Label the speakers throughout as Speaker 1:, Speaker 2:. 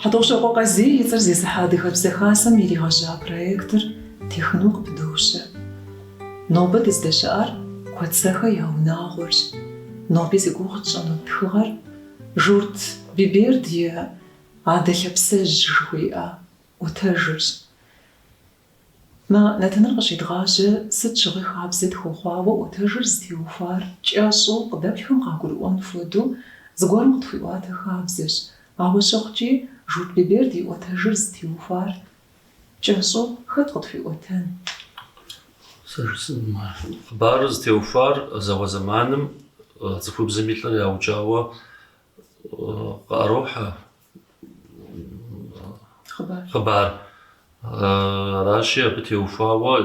Speaker 1: Хьэтӏохъущокъуэ Къазий и цӏэр зезыхьэ Адыгэбзэ Хасэм иригъэжьа проектыр техыну къыпыдощэ. Нобэ дыздэщыӏэр Куэцэхэ я унагъуэрщ. Ноби зи гугъу тщӏыну тхыгъэр Журт Биберд и Адэ лъапсэжь жыхуиӏэ ӏуэтэжырщ. Мэ, нэтыныр къыщедгъажьэ, сыт щыгъуи хабзэ тхуэхъуауэ ӏуэтэжыр зытеухуар кӏэщӏу къыдэплъхэм къагурыӏуэн хуэдэу зыгуэрым къытхуиӏуатэ хабзэщ. Ауэ щыхъукӏи, Журт Биберд и ӏуэтэжыр зытеухуар кӏэщӏу хэт къытхуиӏуэтэн? Сэ
Speaker 2: жысӏэнум ар. Хъыбарыр зытеухуар зауэ зэманым цӏыхубзым и лӏыр яукӏауэ къыӏэрохьэ. хъыбар. Аращи, абы теухуауэ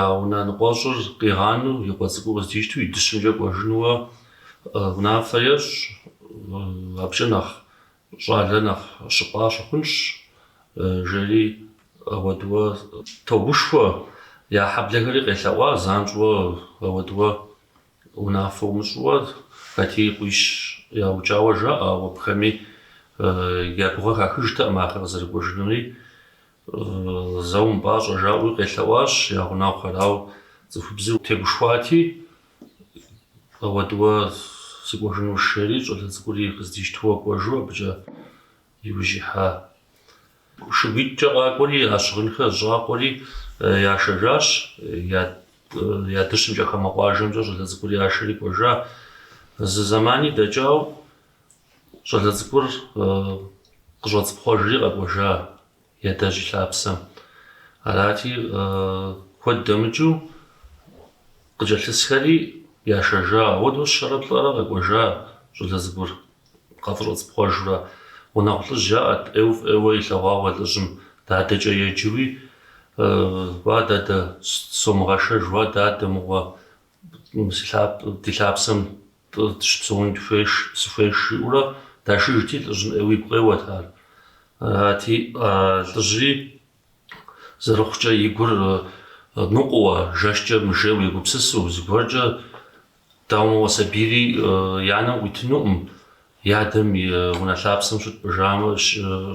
Speaker 2: я унэ ныкъуэщӏыр къигъанэу, и къуэ цӏыкӏур къыздищтэу, и дыщымкӏэ кӏуэжынууэ унафэ ещӏ. Абыкӏэ нэхъ щӏалэ нэхъ щыпӏа щыхъунщ, жери ауэдууэ тогушхуэ. Я хьэблэхэри къелъэӏуа занщӏэу ауэдууэ Унафэ умыщӏыуэ хэт и къуищ яукӏауэ жаӏэ, ауэ абыхэми я гугъэ хахыжтэкъым ахэр къызэрыкӏуэжынури. Зэ умыпӏащӏэ жаӏэуи къелъэӏуащ я гъунэгъухэр, ауэ цӏыхубзыр тегушхуати, ауэдууэ сыкӏуэжынущ жери, щӏалэ цӏыкӏури къыздищтууэ кӏуэжу абыкӏэ Иужь ихьа шыгуитӏкӏэ къакӏуэри, а щыгъынхэр зэщӏакъуэри яшэжащ, я дыщымкӏэ хамэ къуажэмкӏэ щӏалэ цӏыкӏур яшэри кӏуэжа. Зы зэмани дэкӏауэ щӏалэ цӏыкӏур къыщӏэцӏыпхъуэжри къэкӏуэжа. Ядэжь и лъапсэм. Арати, куэд дэмыкӏыу къыкӏэлъысхэри яшэжа. Ауэдэу щэрэ плӏэрэ къэкӏуэжа щӏалэ цӏыкӏур къафӏыщӏэцӏыпхъуэжурэ. Гъунэгъу лӏыжь яӏэт, ӏейуэ фӏыуэ илъэгъуауэ лӏыжьым дадэкӏэ еджэуи, Уа, дадэ, сомыгъэшэж, уа, дадэ, мыгъуэ. Ди лъапсэм дыщыпсэун сыхуейщ, жиӏэурэ дашыжти, лӏыжьым ӏейуэ и гу къеуэт ар. Арати, лӏыжьри зэрыхъукӏэ и гур ныкъуэуэ, жэщкӏэ мыжейуэ егупсысу, зыгуэркӏэ, дауэ мыгъуэ, сабийри и анэм къуитынукъым, и адэм и унэ лъапсэм щытпӏыжамэ,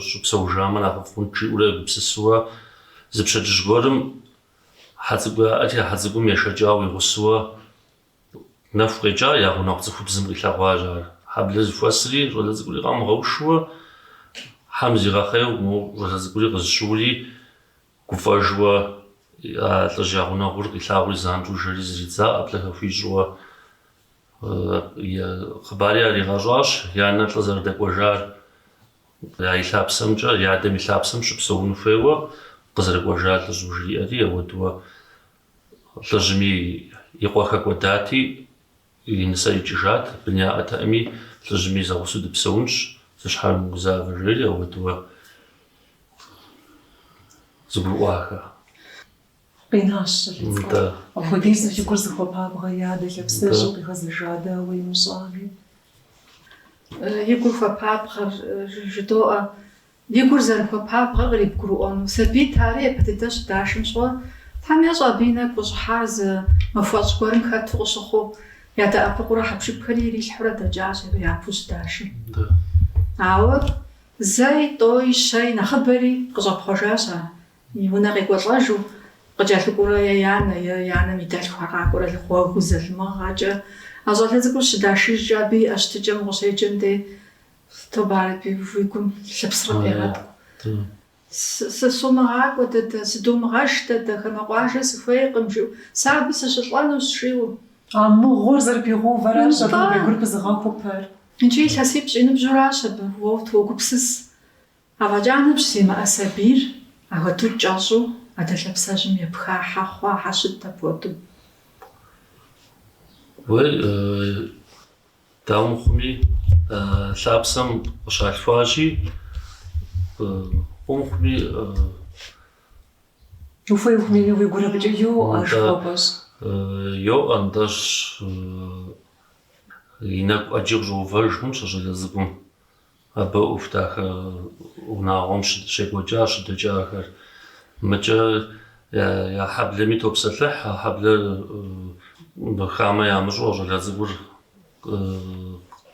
Speaker 2: щыпсэужамэ нэхъыфӏ хъунт, жиӏэурэ егупсысурэ, зы пщэдджыжь гуэрым Хьэ цӏыкӏу яӏэти, а хьэ цӏыкӏум ешэкӏауэ и гъусэуэ нэху къекӏа я гъунэгъу цӏыхубзым къилъэгъуащ ар. Хьэблэ зыхуэсри щӏалэ цӏыкӏури къамыгъэушуэ, хьэм зигъэхъейуэ моуэ щӏалэ цӏыкӏури къызэщыури гуфӏэжуэ а лӏыжь я гъунэгъур къилъагъури занщӏэу жэри зридза ӏэплӏэхэр хуищӏууэ. Хъыбари яригъэщӏащ янэр лӏы зэрыдэкӏуэжар. Я и лъапсэмкӏэ, и адэм и лъапсэм щыпсэуну хуейуэ къызэрыкӏуэжа лӏыжьым жриӏэри, ауэдууэ лӏыжьми и къуэ хэкӏуэдати, и нысэ икӏыжат, бын яӏэтэӏыми, лӏыжьми зэгъусэу дыпсэунщ, зы щхьэр умыгузавэ, жери ауэдууэ зыгурыӏуахэ.
Speaker 1: Къинащ щӏалэ цӏыкӏур. Апхуэдизу и гур зыхуэпабгъэ и адэ лъапсэжьым къигъэзэжа дауэ имыщӏами.
Speaker 3: И гур хуэпабгъэр, жыдоӏэ, и гур зэрыхуэпабгъэр кърибгурыӏуэну. Сабийт ари, япэ дыдэ щыдашым щыгъуэ. Тхьэм ещӏэ абы и нэгу къыщӏыхьар зы махуэщӏ гуэрым хэту къыщыхъуу. Ядэӏэпыкъуурэ хьэпшыпхэри ирилъхьурэ дэкӏащ абы япэу щыдашым. Ауэ зэи, тӏои, щэи, нэхъыбэри къыщӏэпхъуэжащ ар. И унэ къекӏуэлӏэжу къыкӏэлъыкӏуурэ е и анэ, е и анэм и дэлъхухэр къакӏуэрэ гъуэгыу залымыгъэкӏэ, а щӏалэ цӏыкӏур щыдашыжкӏэ абы иӏа щытыкӏэм укъыщеджэм дей, тобэ ярэби, уи гум лъыпсрэ къегъэткӏу. Сысумыгъакӏуэ, дадэ, сыдомыгъэш, дадэ, хамэ къуажэ сыхуейкъым, жиӏэу. Сэ абы сыщылӏэнущ, жиӏэу. А мыгъуэр
Speaker 1: зэрыпигъэувэращ абы уи гур пызыгъэхупэр. Икӏи илъэсипщӏ
Speaker 3: и ныбжьуращ абы, уэ утогупсыс. Афӏэкӏа ныбжь зимыӏэ сабийр ахуэдэу кӏэщӏу адэ лъэпсэжьым епха хьэ хъуа хьэ щыт
Speaker 2: апхуэдэу. Уей, дауэ мыхъуми, лъапсэм къыщалъхуащи, фӏыуэ
Speaker 1: мыхъуми, Ухуей ухуэмейми уи гур абыкӏэ йоӏэ, жыхуэпӏэщ. Йоӏэ,
Speaker 2: нтӏэ, и нэгу ӏэджи къыщӏэувэж хъунщ а щӏалэ цӏыкӏум. Абы ӏуэху дахэ унагъуэм щекӏуэкӏа щыдэкӏахэр. Мыкӏэ я хьэблэми топсэлъыхь, а хьэблэр хамэ ямыщӏэу щӏалэ цӏыкӏур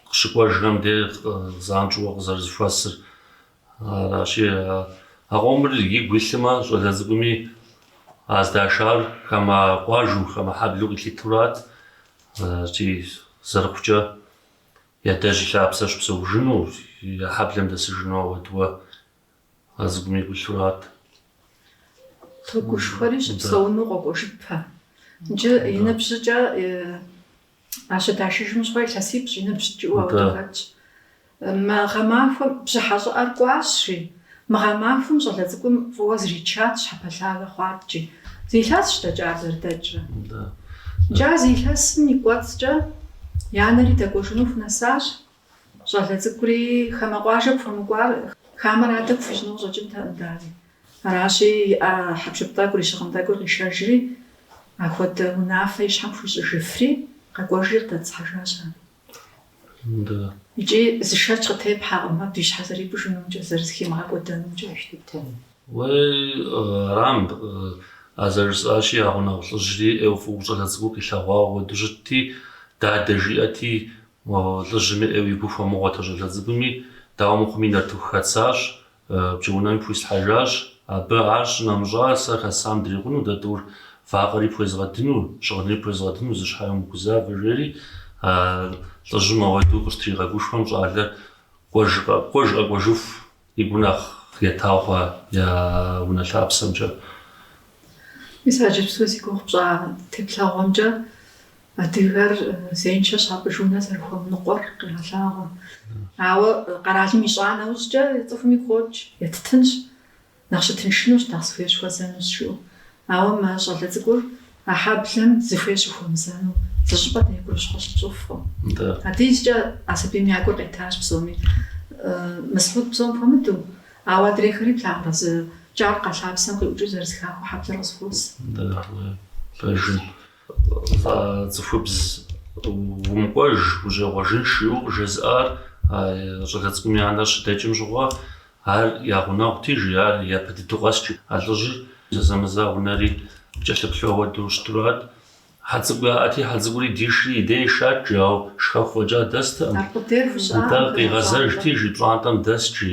Speaker 2: къыщыкӏуэжхэм де занщӏэу къызэрызэхуэсыр. Аращи, а къомыр игу илъмэ, щӏалэ цӏыкӏуми а здашар хамэ къуажэу, хамэ хьэблэу къилъытурат. Икӏи зэрыхъукӏэ. И адэжь и лъапсэ щыпсэужыну, я хьэблэм дэсыжыну ауэдууэ а цӏыкӏум игу илъурат. Тогушхуэри
Speaker 3: щыпсэуну къокӏуэжыпэ. Иджы и ныбжьыкӏэ а щыдашыжым щыгъуэ илъэсипщӏ и ныбжьщ жиӏэу ауэдэу хэтщ. Мы гъэмахуэм бжьыхьэ щӏыӏэр кӏуащ, жи. Мы гъэмахуэм щӏалэ цӏыкӏум фӏыуэ зричат щхьэпэлъагэ хъуаткӏи. Зы илъэсщ дэкӏар зэрыдэкӏрэ. Икӏи а зы илъэсым и кӏуэцӏкӏэ и анэри дэкӏуэжыну хунэсащ. Щӏалэ цӏыкӏури хамэ къуажэ пхуэмыкӏуар хамэр адэ пхуищӏыну къыщӏэкӏынтэкъым дари. Аращи, иӏэ хьэпшып тӏэкӏур, и щыгъын тӏэкӏур къишэжри, ахуэдэ унафэ и щхьэм хуищӏыжыфри, къэкӏуэжри къыдэтӏысхьэжащ ар. Икӏи зы шэч къытепхьэкъым абы и щхьэ зэрипӏыжынумкӏэ, зэрызыхимыгъэкӏуэдэнумкӏэ.
Speaker 2: Арам, а зэрыжысӏащи, а гъунэгъу лӏыжьри ӏейуэ фӏыуэ щӏалэ цӏыкӏур къилъэгъуауэ ауэдэу щытти, дадэ жиӏэти, лӏыжьми ӏейуэ игу хуэмыгъуэт а щӏалэ цӏыкӏуми. Дауэ мыхъуми, нартыху хэссащ. Пкӏэунэми пхуислъхьэжащ. Абы ар щынэмыщӏа, сэ хэссам дрикъуну, дэ тӏур вакъэри пхуезгъэдыну, щыгъынри пхуезгъэдыну зы щхьэи умыгузавэ, жери лӏыжьым ауэдэу къыщытригъэгушхуэм, щӏалэр кӏуэж къэкӏуэжыху игу нэхъ етауэ я унэ лъапсэмкӏэ. Мис
Speaker 3: а иджыпсту зи гугъу пщӏа теплъэгъуэмкӏэ Адыгэр зеиншэ щапӏыж унэ зэрыхуэмыныкъуэр къегъэлъагъуэ. Ауэ къэралым ищӏа нэужькӏэ, цӏыхум игу къокӏ, еттынщ, нэхъ щытыншынущ, нэхъ зыхуей щыхуэзэнущ, жыӏэу. Ауэ мы щӏалэ цӏыкӏур а хьэблэм зыхуей щыхуэмызэну зы щӏыпӏэ деи гурыщхъуэ щытщӏыфкъым. Ауэдизкӏэ а сабийм я гур къетащ псоми, Мысхьуд псом хуэмыдэу, ауэ адрейхэри плъагъурэ зы кӏий макъ а лъапсэм къиӏукӏыу зэрызыхахыу хьэблэр къызыхуос.
Speaker 2: Пэжым. Цӏыхубз умыкӏуэж, ущӏегъуэжынщ, жиӏэу къыжезыӏар а щӏалэ цӏыкӏум и анэр щыдэкӏым щыгъуэ, ар я гъунэгъути, жи, ар япэ дыдэу къэст, жи. А лӏыжьыр зэзэмызэ а унэри кӏэлъыплъу ауэдэу щытурат. Хьэцӏыкӏу яӏэти, хьэцӏыкӏури дишри и дей ишат, жи, ауэ шхэху фӏэкӏа дэстэкъым. Нтӏэ къигъэзэжти, жи, пщӏантӏэм дэст, жи,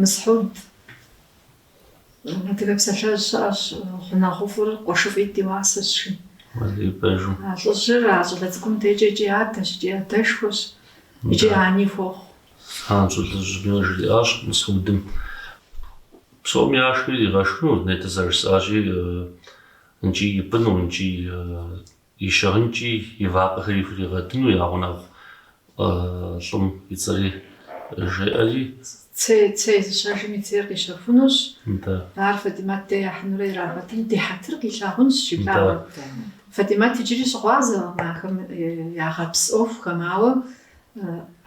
Speaker 3: Мысхьуд, адыгэ псалъэжь щыӏэщ, гъунэгъуфӏыр къуэшыфӏитӏ и уасэщ, жи. А
Speaker 2: лӏыжьыр а
Speaker 3: щӏалэ цӏыкӏум дежкӏэ икӏи адэщ, икӏи адэшхуэщ, икӏи ани хуохъу.
Speaker 2: Занщӏэу лӏыжьми жриӏащ Мысхьудым, псом яшхыр иригъэшхыну, нетӏэ зэрыжысӏащи, нкӏи ипӏыну, нкӏи и щыгъынкӏи и вакъэхэри хуригъэдыну я гъунэгъу лӏым и цӏэри жеӏэри.
Speaker 3: Цей, цей зыщэжым и цейр къищэхунущ. Нтӏэ. Ар Фатимат дей яхьынурэ ирагъэдын, ди хьэтыр къилъагъунщ, жиӏауэ. Фатимат иджыри щыгъуазэкъым ахэм ягъэпс ӏуэхухэм, ауэ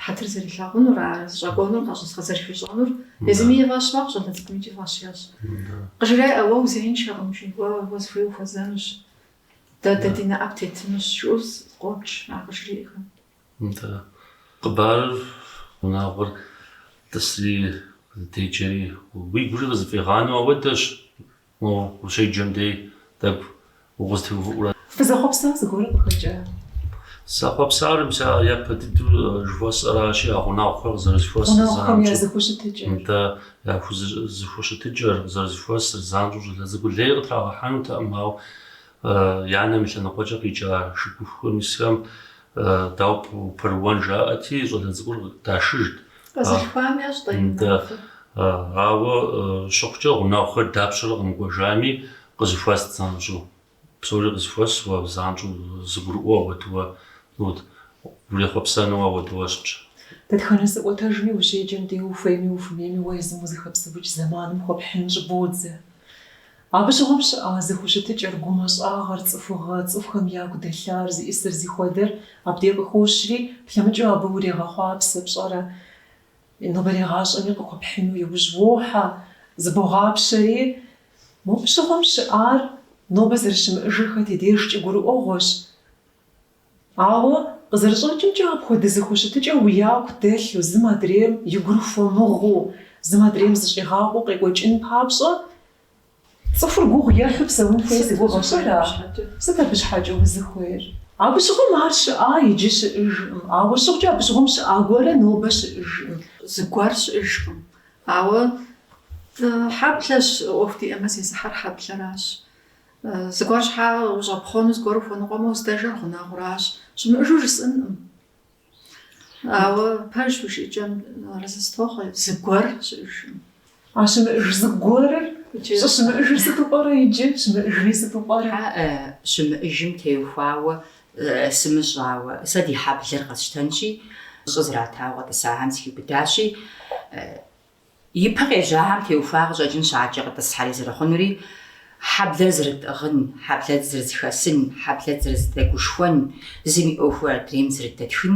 Speaker 3: хьэтыр зэрилъагъунур, ар зыщӏэкӏуэнур, гущӏэгъу зэрыхуищӏэнур езыми и фӏэщ мэхъу, щӏалэ цӏыкӏум икӏи и фӏэщ ещӏ. Къыжреӏэ, уэ узеиншэкъым, жи, уэ, уэ зыхуей ухуэзэнущ. Дэ ди нэӏэ птетынущ, жыӏэу къокӏ,
Speaker 2: ар къыжриӏэхэм. Нтӏэ. Хъыбарыр, унагъуэр тӏысри зэдеджэри, уигури къызыфӏигъанэу ауэдэщ, мо ущеджэм дей тӏэкӏу
Speaker 1: укъызытеувыӏурэ. Фызэхъуэпса зыгуэру къыхэкӏа? Сызэхъуэпсар
Speaker 2: мис ар япэ дыдэу жыхуэсӏэращи, а гъунэгъухэр къызэрызэхуэсыр зэамкӏэ. Гъунэгъухэм я зэхущытыкӏэр.
Speaker 1: Нтӏэ. Я
Speaker 2: зэхущытыкӏэр, къызэрызыхуэсыр, занщӏэу щӏалэ цӏыкӏур лей къытрагъэхьэнутэкъым, ауэ и анэм и лъэныкъуэкӏэ къикӏа шыгухухэм исхэм дауэ ппэрыуэн жаӏэти, щӏалэ цӏыкӏур дашыжт.
Speaker 3: Къэзылъхуам ящӏэ-тӏэ и нэхъыфӏыр? Ауэ
Speaker 2: щыхъукӏэ, гъунэгъухэр дапщэрэ къэмыкӏуэжами, къызыхуэст занщӏэу. Псори къызыхуэсуэ занщӏэу зыгурыӏуэу ауэдууэ, ну, урехъуэпсэнуэ ауэдууэ щытщ. Дэтхэнэ зы
Speaker 1: ӏуэтэжми ущеджэм дей ухуейми ухуэмейми уэ езым узыхэпсэукӏ зэманым хуэпхьын щӏыбодзэ. Абы щыгъуэм щыӏа зэхущытыкӏэр, гумэщӏагъэр, цӏыхугъэ, цӏыхухэм яку дэлъар, зиӏысыр зихуэдэр абдей къыхощри, плъэмыкӏыу абы урегъэхъуапсэ пщӏэрэ, нобэрей гъащӏэми къыхуэпхьыну иужь уохьэ, зыбогъапщэри, Мопщыгъуэм щыӏар нобэ зэрыщымыӏыжыр хэт и дежкӏи гурыӏуэгъуэщ. Ауэ, къызэрыщӏэкӏымкӏэ, апхуэдэ зэхущытыкӏэ уи яку дэлъу, зым адрейм и гур хуэмыгъуу, зым адрейм зыщӏигъакъуэу къекӏуэкӏын папщӏэ, цӏыхур гугъу ехьу псэун хуей си гугъэщ, ара? Сыт абы щхьэкӏэ узыхуейр? Абы щыгъуэм ар щыӏа иджы щыӏыжкъым, ауэ щыхъукӏэ абы щыгъуэм щыӏа гуэрэ нобэ щыӏыжкъым. Зыгуэр
Speaker 3: щыӏыжкъым, Ауэ хьэблэщ, ӏуэху диӏэмэ зезыхьэр хьэблэращ. Зыгуэр щхьа ущӏэпхъуэну, зыгуэр ухуэныкъуэмэ, уздэжэр гъунэгъуращ. Щымыӏэжу жысӏэнкъым. Ауэ пэжщ уи жыӏэкӏэм арэзы сытохъуэ, зыгуэр щыӏэжкъым. А
Speaker 1: щымыӏэж зыгуэрыр, щымыӏэжыр сыту пӏэрэ иджы, щымыӏэжри сыту пӏэрэ? Хьэӏэ, щымыӏэжым
Speaker 4: теухуауэ Сымыщӏауэ, сэ ди хьэблэр къэсщтэнщи, щӏы зратауэ къэтӏысахэм схиубыдащи, ипэ къежьахэм теухуа къыщӏэкӏын щхьэкӏэ къытӏысхьэри зэрыхъунури, хьэблэр зэрытӏыгъын, хьэблэр зэрызыхэсын, хьэблэр зэрызыдэгушхуэн, зым и ӏуэхур адрейм зэрыдэтхын,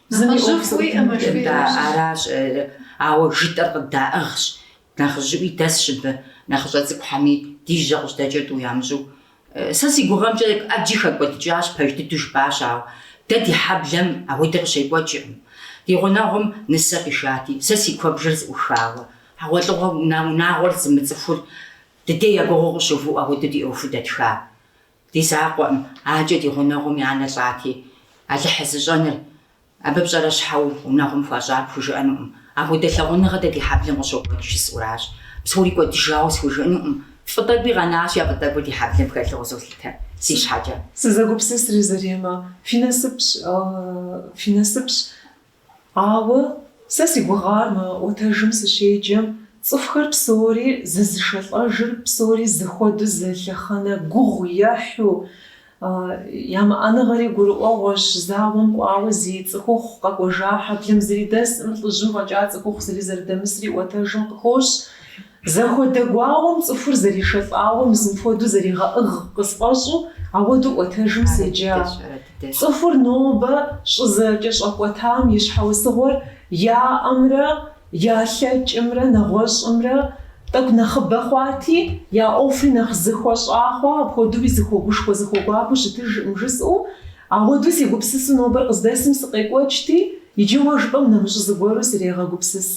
Speaker 4: Зыми ӏуэху зыкъытымытыр да аращ, ауэ жытӏэр къыддаӏыгъщ, нэхъыжьыӏуи дэсщ абы, нэхъыщӏэ цӏыкӏухэми ди жьэ къыжьэдэкӏыр тӏу ямыщӏу. Сэ си гугъэмкӏэ ӏэджи хэкӏуэдыкӏащ, пэж дыдэу жыпӏащ, ауэ дэ ди хьэблэм ауэдэ къыщекӏуэкӏыркъым. Ди гъунэгъум нысэ къишати, сэ си куэбжэр зыӏухауэ, хьэгъуэлӏыгъуэ унагъуэр зымыцӏыхур ди дей я гугъэу къыщыуву апхуэдэу ди ӏуэхуу дэтха. Ди закъуэкъым адкӏэ ди гъунэгъум и анэ лӏати, Алыхьыр зыщӏэныр абы пщӏэрэ щхьэу гъунэгъум хуащӏар пхужыӏэнукъым, апхуэдэ лъагъуныгъэ дэ ди хьэблэм къыщокӏуэкӏ жысӏэуращ. Псори кӏуэдыжауэ схужыӏэнукъым, фӏы тӏэкӏуи къэнащ, а фӏы тӏэкӏур ди хьэблэм хэлъу къызолъытэ си щхьэкӏэ. Сызэгупсысри,
Speaker 1: Заремэ, фи насыпщ, фи насыпщ, Ауэ сэ си гугъар мы ӏуэтэжым сыщеджэм, цӏыхухэр псори зызышэлӏэжыр, псори зыхуэду зы лъэхъэнэ гугъу ехьу, ямыӏэныгъэри гурыӏуэгъуэщ, зауэм кӏуауэ зи цӏыхухъу къэкӏуэжа хьэблэм зыри дэсӏым, лӏыжьым фӏэкӏа цӏыхухъу зыри зэрыдэмысри ӏуэтэжым къыхощ. Зэхуэдэ гуауэм цӏыхур зэришэлӏауэ мис мыпхуэдэу зэригъэӏыгъ къысфӏэщӏу ауэду ӏуэтэжым седжа. Цӏыхур нобэ щӏызэкӏэщӏэкӏуэтам и щхьэусыгъуэр яӏэмрэ ялъэкӏымрэ нэгъуэщӏымрэ тӏэкӏу нэхъыбэ хъуати, я ӏуэхури нэхъ зыхуэщӏа хъуа, апхуэдэуи зыхуэгушхуэ зыхуэгуапэу щытыжкъым жысӏэу, ауэду сегупсысу нобэр къыздэсым сыкъекӏуэкӏти, иджы уэ жыпӏэм нэмыщӏ зыгуэру срегъэгупсыс.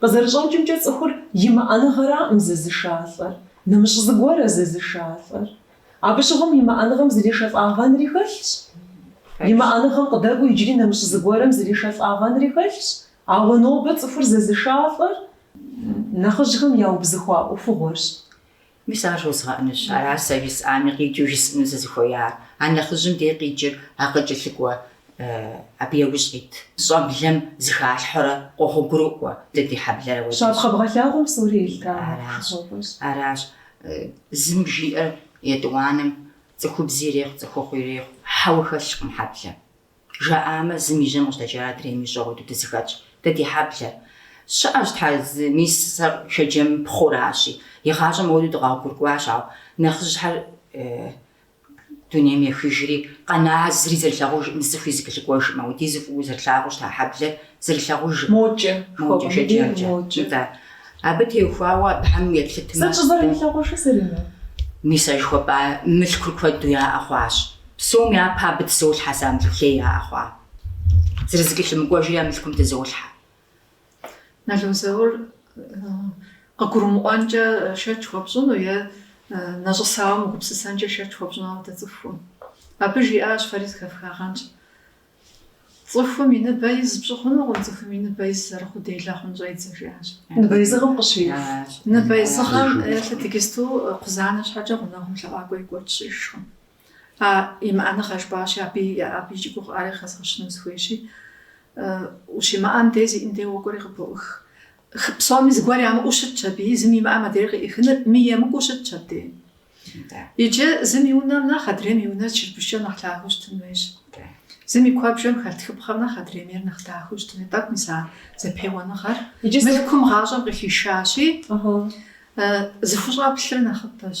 Speaker 1: Къызэрыщӏэкӏымкӏэ, цӏыхур имыӏэныгъэраӏым зызышалӏэр, нэмыщӏ зыгуэрэ зызышалӏэр. Абы щыгъуэм имыӏэныгъэм зэришэлӏагъэнри хэлъщ. Имыӏэныгъэм къыдэкӏуэу иджыри нэмыщӏ зыгуэрэм зэришэлӏагъэнри хэлъщ. Ауэ нобэ цӏыхур зызышалӏэр нэхъыжьхэм яубзыхуа ӏуэхугъуэрщ. Мис
Speaker 4: ар жозгъэӏэнущ, аращ сэ жысӏами, къикӏыу жысӏыну сызыхуеяр. А нэхъыжьым дей къикӏыр а къыкӏэлъыкӏуэ абы яужь къит щӏэблэм зыхалъхьурэ къогъуэгурыкӏуэ дэ ди хьэблэр ауэду. Щапхъэ бгъэлъагъуэм
Speaker 1: псори елъыта хущхъуэфӏыщ.
Speaker 4: Аращ зым жиӏэр етӏуанэм, цӏыхубзи ирехъу, цӏыхухъуи ирехъу, хьэуэ хэлъкъым хьэблэм. Жаӏамэ, зым и жьэм къыжьэдэкӏа адрейм ищӏэу уэду дызыхэтщ дэ ди хьэблэр. Щыӏэщ тхьэ, мис сэ Шэджэм пхъуращи. Игъащӏэм уэду дыкъэгъуэгурыкӏуащ, ауэ нэхъыжьхэр дунейм ехыжри, къэна зыри зэрылъагъужӏым, зы цӏыхуи зыкӏэлъыкӏуэжӏым, ауэдизу фӏыуэ зэрылъагъуу щыта хьэблэр зэрылъагъужӏым. Мокӏэ,
Speaker 1: мокӏэ
Speaker 4: Шэджэмкӏэ. Нтӏэ. Абы теухуауэ абыхэм еплъытмэ. Сыт щӏызэрымылъагъужыр
Speaker 1: зэрыну? Мис а
Speaker 4: жыхуэпӏа мылъкур куэду яӏэ хъуащ. Псом япэ абы тызолъхьэ сэ а мылъкулей яӏэ хъуа. Зэрызэкӏэлъымыкӏуэжри а мылъкум тызолъхьэ. Нало Заур
Speaker 3: къыгурымыӏуэнкӏэ шэч хуэпщӏыну е нэщӏысауэ мыгупсысэнкӏэ шэч хуэпщӏыну ауэдэ цӏыхуӏым. Абы жиӏащ фэри зыхэфхагъэнщ. Цӏыхум и ныбэ из пщӏы хъунукъым, цӏыхум и ныбэ из зэрыхъуу делэ хъун щӏедзэ, жиӏащ.
Speaker 1: Ныбэ изыгъэм
Speaker 3: къыщиуф. Ныбэ изыгъэм, е лъы иджыпсту кхъузанэ щхьэкӏэ гъунэгъум лъэӏуакӏуэ екӏуэкӏ щыӏэжкъым. А имыӏэныгъэ жыпӏащи, абы икӏи гугъыӏари хэзгъэщыну сыхуейщи, ущимыӏэм дей зиӏэм дей уокӏуэри къыбоӏых. Хы псоми зыгуэр ямыӏэу щытщ абы, зым имыӏэм адрейр къыӏихыныр мыемыкӏуу щытщ абдей. Иджы зым и унэм нэхъ адрейм и унэр чырбышкӏэ нэхъ лъагэу щытын хуейщ. Зым и куэбжэм хэлъ тхыпхъэм нэхъ адрейм ейр нэхъ дахэу щытын хуей. Тӏэкӏу мис а зэпеуэныгъэр мылъкум гъащӏэм къыхишащи, зыхущӏэплъыр нэхъыбэщ.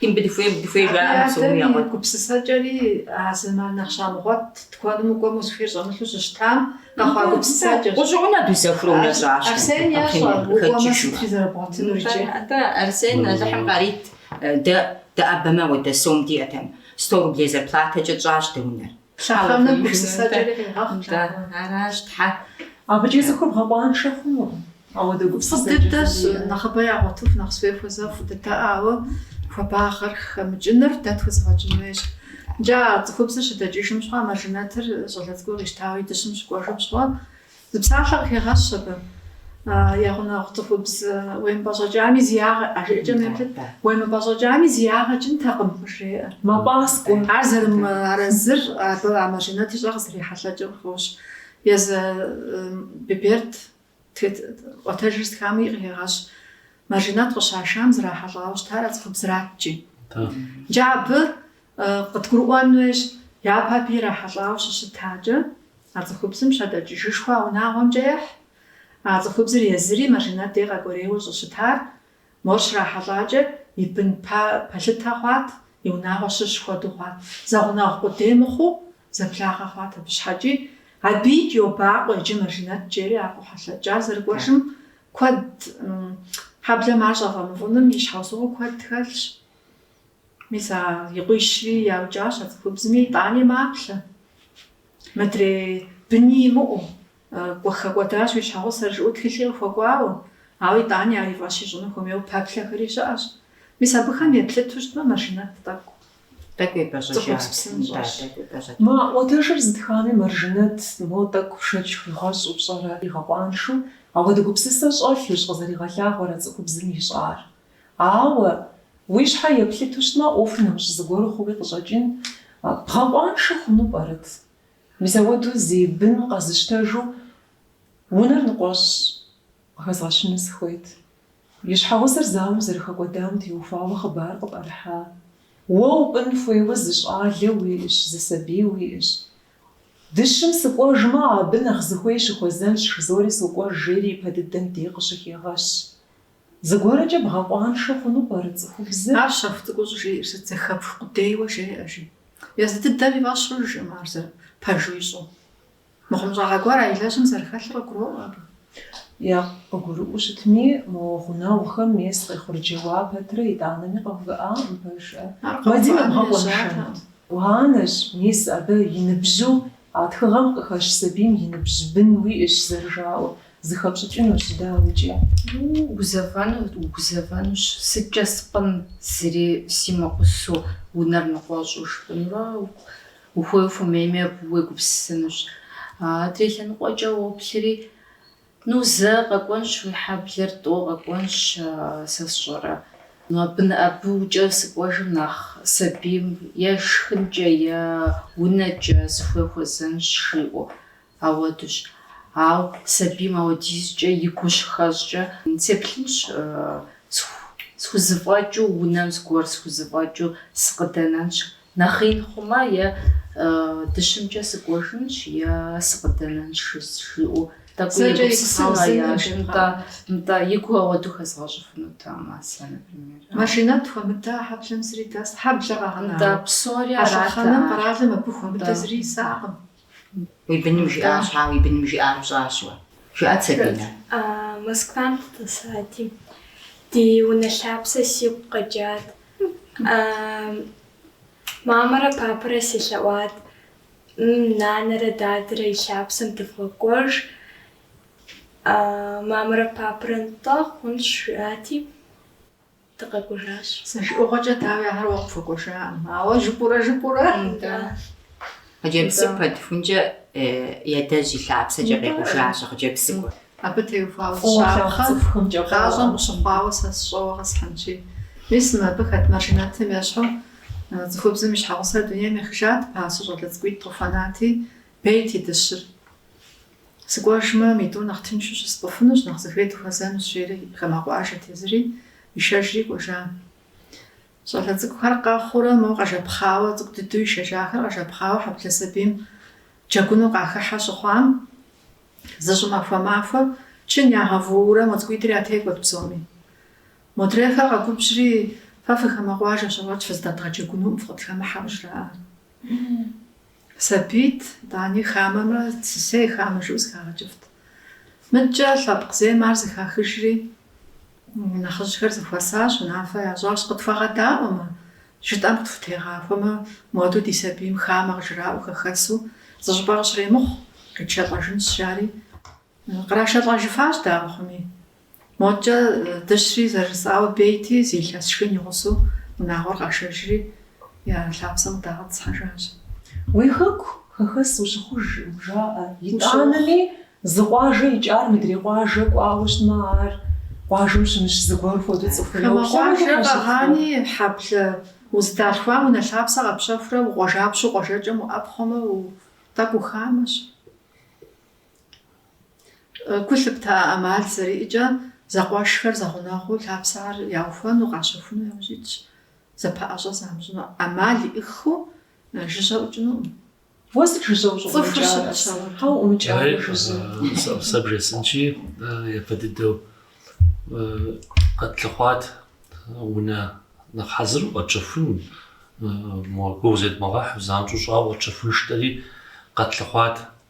Speaker 4: Дадэ и
Speaker 3: гупсысэкӏэри а зэман нэхъ щамыгъуэт, тыкуэным укӏуэмэ, узыхуейр щӏэмылъу щыщытам къэхъуа гупсысэкӏэщ. Арсен
Speaker 4: ещӏэ,
Speaker 3: укӏуэмэ сытри зэрыбгъуэтынур иджы. Атӏэ, Арсен,
Speaker 4: Алыхьым къарит, дэ дыӏэбэмэ ауэдэ сом диӏэтэкъым, сто рублей зарплатэкӏэ тщӏащ дэ унэр.
Speaker 3: Лъэхъэнэм гупсысэкӏэри
Speaker 4: къегъэхъу лъапӏэм. Нтӏэ, аращ, Тхьэ. Абыкӏи цӏыхур
Speaker 1: бгъэкъуаншэ хъунукъым. Ауэ дэ гупсысэкӏэ Фӏы дыдэщ, жыхуиӏэ. нэхъыбэ
Speaker 3: ягъуэтыху нэхъ зыхуей хуэзэу фӏы дыдэ, ауэ хуабагъэр хэмыкӏыныр дэ тхузэфӏэкӏын хуейщ. Нтӏэ, а цӏыхубзыр щыдэкӏыжым щыгъуэ а Мэржынэтыр щӏалэ цӏыкӏур къищтауэ и дыщым щыкӏуэжым щыгъуэ, Зы псалъэ къыхегъэщ абы, Я гъунэгъу цӏыхубз, уемыпӏэщӏэкӏами зи ягъэ, а жыӏэкӏэм еплъыт, Уемыпӏэщӏэкӏами зи ягъэ кӏынтэкъым, къыжреӏэ. Мэпӏаскӏуэ.
Speaker 1: Ар зэрымыарэзыр
Speaker 3: абы а Мажинэт ищӏэр къызэрехьэлъэкӏым къыхощ. Езы Биберд ӏуэтэжыр зытхами къыхегъэщ, Мажинэт къыщашам зрахьэлӏауэ щытар а цӏыхубзраткӏи. Иджы абы Къыдгурыӏуэн хуейщ, япэ абы ирахьэлӏауэ щыщытакӏэ, а цӏыхубзым щыдэкӏыжым щыгъуэ а унагъуэмкӏэ ехь. А цӏыхубзыр езыри Мажинэт дей къэкӏуэрейуэ щӏыщытар, мор щрахьэлӏакӏэ, и бын пэлъытэ хъуат, и унагъуэ щыщ хуэдэу хъуат. Зэгъунэгъу къудей мыхъуу, зэблагъэ хъуат абы щхьэкӏи. Абы йобакъуэ иджы Мажинэт жери а къохьэлъэкӏ ар зэрыкӏуэжым куэд. Хьэблэм ар щӏафӏэмыфӏыным и щхьэусыгъуэ куэд хэлъщ. Мис а и къуищри яукӏащ а цӏыхубзми, итӏани маплъэ. Мыдрей быни имыӏэу, кӏуэ хэкӏуэдащ уи щхьэгъусэр, жыӏэу тхылъи къыхуэкӏуауэ. Ауэ итӏани ар и фӏэщ ищӏыну хуэмейуэ пэплъэхэри щыӏэщ. Мис абыхэм еплъыту щытмэ, Мэржынэт тӏэкӏу. Тӏэкӏу
Speaker 4: епӏэщӏэкӏат. Цӏыхубз псынщӏэщ.
Speaker 1: Ма ӏуэтэжыр зытхами, Мэржынэт, мо тӏэкӏу шэч хуигъэщӏу пщӏэрэ, игъэкъуаншэу? Ауэдэ гупсысэ щӏэлъущ къызэригъэлъагъуэр а цӏыхубзым ищӏар. Ауэ, уи щхьэ еплъыту щытмэ, ӏуэхур нэмыщӏ зыгуэру хъууи къыщӏэкӏын бгъэкъуаншэ хъуну пӏэрэт? Мис ауэдэу зи бын къэзыщтэжу унэр ныкъуэщӏ къыхэзгъэщыну сыхуейт. И щхьэгъусэр зауэм зэрыхэкӏуэдам теухуауэ хъыбар къыпӏэрыхьа. Уэ упӏын хуейуэ зы щӏалэ уиӏэщ, зы сабий уиӏэщ. Дыщым сыкӏуэжмэ, абы нэхъ зыхуей щыхуэзэнщ, жызори сокӏуэж, жери ипэ дыдэм дей къыщыхегъэщ. Зыгуэркӏэ бгъэкъуаншэ хъуну пӏэрэ цӏыхубзыр? Ар щэху цӏыкӏуу
Speaker 3: щӏыжеӏэр сыт, зэхэпх къудейуэ жеӏэ, жи. Езы дыдэм и фӏэщ хъужкъым, ар зэ пэжу ищӏу. Мыхъумыщӏагъэ гуэр а илэжьым зэрыхэлъыр къыгуроӏуэ абы. Е
Speaker 1: къыгурыӏуэу щытми, мо гъунэгъухэм мес къехъурджэуа пэтрэ итӏанэми къэувыӏакъым, пэжщ. Ар бгъэкъуаншэну? Уанэщ, мис, абы и ныбжьу а тхыгъэм къыхэщ сабийм и ныбжь бын уиӏэщ зэрыжаӏэу. Зыхэпщӏыкӏынущ, дауикӏи.
Speaker 5: Гузэвэну, угузэвэнущ. Сыткӏэ спӏын зыри симыгъусэу, унэр ныкъуэщӏу спӏынурэ ухуей ухуэмейми абы уегупсысынущ. Адрей лъэныкъуэкӏэ уоплъри, Ну, зэ къэкӏуэнщ уи хьэблэр, тӏо къэкӏуэнщ, сэ сщӏэрэ. Абы абы иужькӏэ сыкӏуэжым нэхъ сабийм е шхынкӏэ, е унэкӏэ зыхуей хуэзэнщ, жиӏэу. Ауэдущ. Ауэ сабийм ауэдизкӏэ и гу щыхэщӏкӏэ, сеплъынщ, схузэфӏэкӏыу унэм зыгуэр схузэфӏэкӏыу сыкъыдэнэнщ, нэхъ ин хъумэ, е дыщымкӏэ сыкӏуэжынщ, е сыкъыдэнэнщ, жиӏэу тӏэкӏуи егупсысагъэнщ. Нтӏэ, и гу ауэдэу хэзгъэщӏыфынутэкъым сэ, например. Маржинэт
Speaker 3: хуэмыдэ хьэблэм зыри дэс, хьэблэ къэгъэна. Нтӏэ, псори арат. А
Speaker 5: лъэхъэнэм къэралым
Speaker 3: абы хуэмыдэ зыри исакъым. Уи
Speaker 4: быным жиӏар щхьа, уи быным жиӏар пщӏащ уэ? Жыӏэт, Сабинэ.
Speaker 6: Москвам дыдэсати, ди унэ лъапсэ сигу къэкӏат. Мамэрэ папэрэ селъэӏуат, нанэрэ дадэрэ и лъапсэм дывгъэкӏуэж, мамэрэ папэрэ нтӏэ хъунщ жиӏати. дыкъэкӏуэжащ. Зэ
Speaker 3: жыӏэгъуэкӏэ, дауи, ахэр уэ къыпхуэкӏуэжакъым, ауэ жыпӏурэ жыпӏурэ.
Speaker 4: Да. Хъыджэбзым пэтхункӏэ ядэжь и лъапсэкӏэ къекъужащ а хъыджэбзыгур. Абы теухуауэ
Speaker 3: зы щапхъэ, гъащӏэм къыщыхъуауэ сэ сщӏэуэ къэсхьынщи. Мис мыбы хэт Маржинэтым ещхьу, цӏыхубзым и щхьэгъусэр дунейм ехыжат, пасэу щӏалэ цӏыкӏуитӏ къыхуэнати, бейт и дыщыр. Сыкӏуэжмэ, мы тӏур нэхъ тыншу щыспӏыфынущ, нэхъ зыхуей дыхуэзэнущ, жери хамэ къуажэт езыри, ишэжри кӏуэжащ. Щӏалэ цӏыкӏухэр къэхъуурэ, моуэ къэжэпхъауэ, цӏыкӏу дыдэу ишэжахэр къэжэпхъауэ хьэблэ сабийм джэгуну къахыхьэ щыхъуам, зы щӏымахуэ махуэ, чын ягъэвуурэ, мо цӏыкӏуитӏыр ятекӏуэт псоми. Модрейхэр къэгубжьри, Фэ фы хамэ къуажэщ, ауэ фыздэдгъэджэгунукъым, фыкъытхэмыхьэ, къыжраӏэ. Сабийт, итӏани хамэмрэ, сысей хамэ жыӏэу зыхагъэкӏыфт. Мыдкӏэ лъэпкъ зейм ар зэхахыжри, нэхъыжьхэр зэхуэсащ, унафэ ящӏащ, Къытхуэгъэдаӏуэмэ, жытӏэм къытхутегъахуэмэ, модэу ди сабийм хамэ къыжраӏуэ хэхэсу, зыщӏыпӏэ къыщремыхъу, къитшэлӏэжынщ, жари, Кърашэлӏэжыфащ дауэ хъуми. Модкӏэ дыщри зэрыжысӏауэ бейти, зы илъэс шхын и гъусэу унагъуэр къашэжри, я лъапсэм къыдагъэтӏысхьэжащ. Уи
Speaker 1: хэку хэхэс ущыхъуж, жаӏэ. Итӏанэми, зы къуажэ икӏар мыдрей къуажэ кӏуауэ щытмэ, ар къуажэм щымыщ зыгуэр хуэдэу цӏыхур йоплъэ. Хамэ къуажэ
Speaker 3: къэгъани, хьэблэ узыдалъхуам унэ лъапсэ къэпщэхурэ, укъуажапщэу къуажэкӏэм уӏэпхъуэмэ, тӏэкӏу ухамэщ. Гу лъыпта ӏэмал зэриӏэкӏэ, зэкъуэшхэр зэгъунэгъуу лъапсэр яухуэну, къащэхуну яужь итщ. Зэпэӏэщӏэ замыщӏыну ӏэмал иӏыххэу жыжьэ ӏукӏынукъым. Уэ сыт жыжьэ
Speaker 1: ущӏыӏумыкӏар, Аслъэн? Хьэ уӏумыкӏа уэ жыжьэ? Сэ
Speaker 2: бжесӏэнщи, япэ дыдэу къэтлъыхъуат унэ нэхъ хьэзыру къэтщэхуну, гугъу зедмыгъэхьу, занщӏэу щӏауэ къэтщэхунщ жытӏэри, къэтлъыхъуат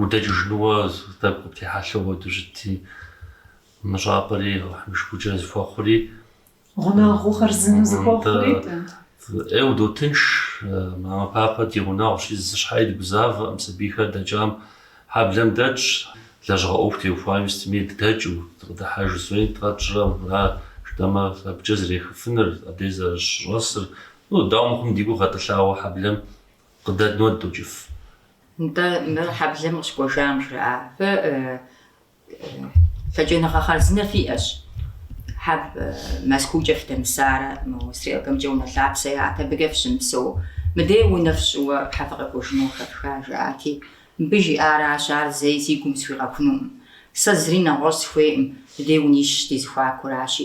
Speaker 2: Удэкӏыжынууэ тӏэкӏу къыптехьэлъэу апхуэдэу щытти, мы щӏапӏэри Алыхьым и шыкуркӏэ зыхуэхъури. Гъунэгъухэр
Speaker 1: зыми зыхуэхъури.
Speaker 2: Ӏейуэ дотынш, мамэ папэ ди гъунэгъущи, зы щхьэи дыгузавэкъым, сабийхэр дэкӏам хьэблэм дэтщ, лэжьыгъэ ӏуэху теухуами сытми дыдэкӏыу, дыкъыдыхьэж зыуи дгъэтщӏрэ, мыра жытӏэмэ абыкӏэ зэрехыфыныр, абдей зэрыщӏэсыр, ну, дауэ мыхъуми ди гур гъэтӏылъауэ хьэблэм къыдэднуэ дыдокӏыф.
Speaker 4: Нтӏэ, мыр хьэблэм къыщыкӏуэжам жраӏа? Фэ лъэкӏыныгъэ хъарзынэ фиӏэщ. Хьэ Мэзкуукӏэ фыдэмысарэ, мы стрелкэмкӏэ унэ лъапсэ яӏэт, абыкӏэ фыщымыпсэу. Мыдей унэ фщӏыуэ хьэ фыкъэкӏуэжыну къыхэфха, жаӏати, мыбы жиӏаращ, ар зэи си гум схуигъэхунукъым. Сэ зыри нэгъуэщӏ схуейкъым, мыдей унищ ди зэхуакуращи,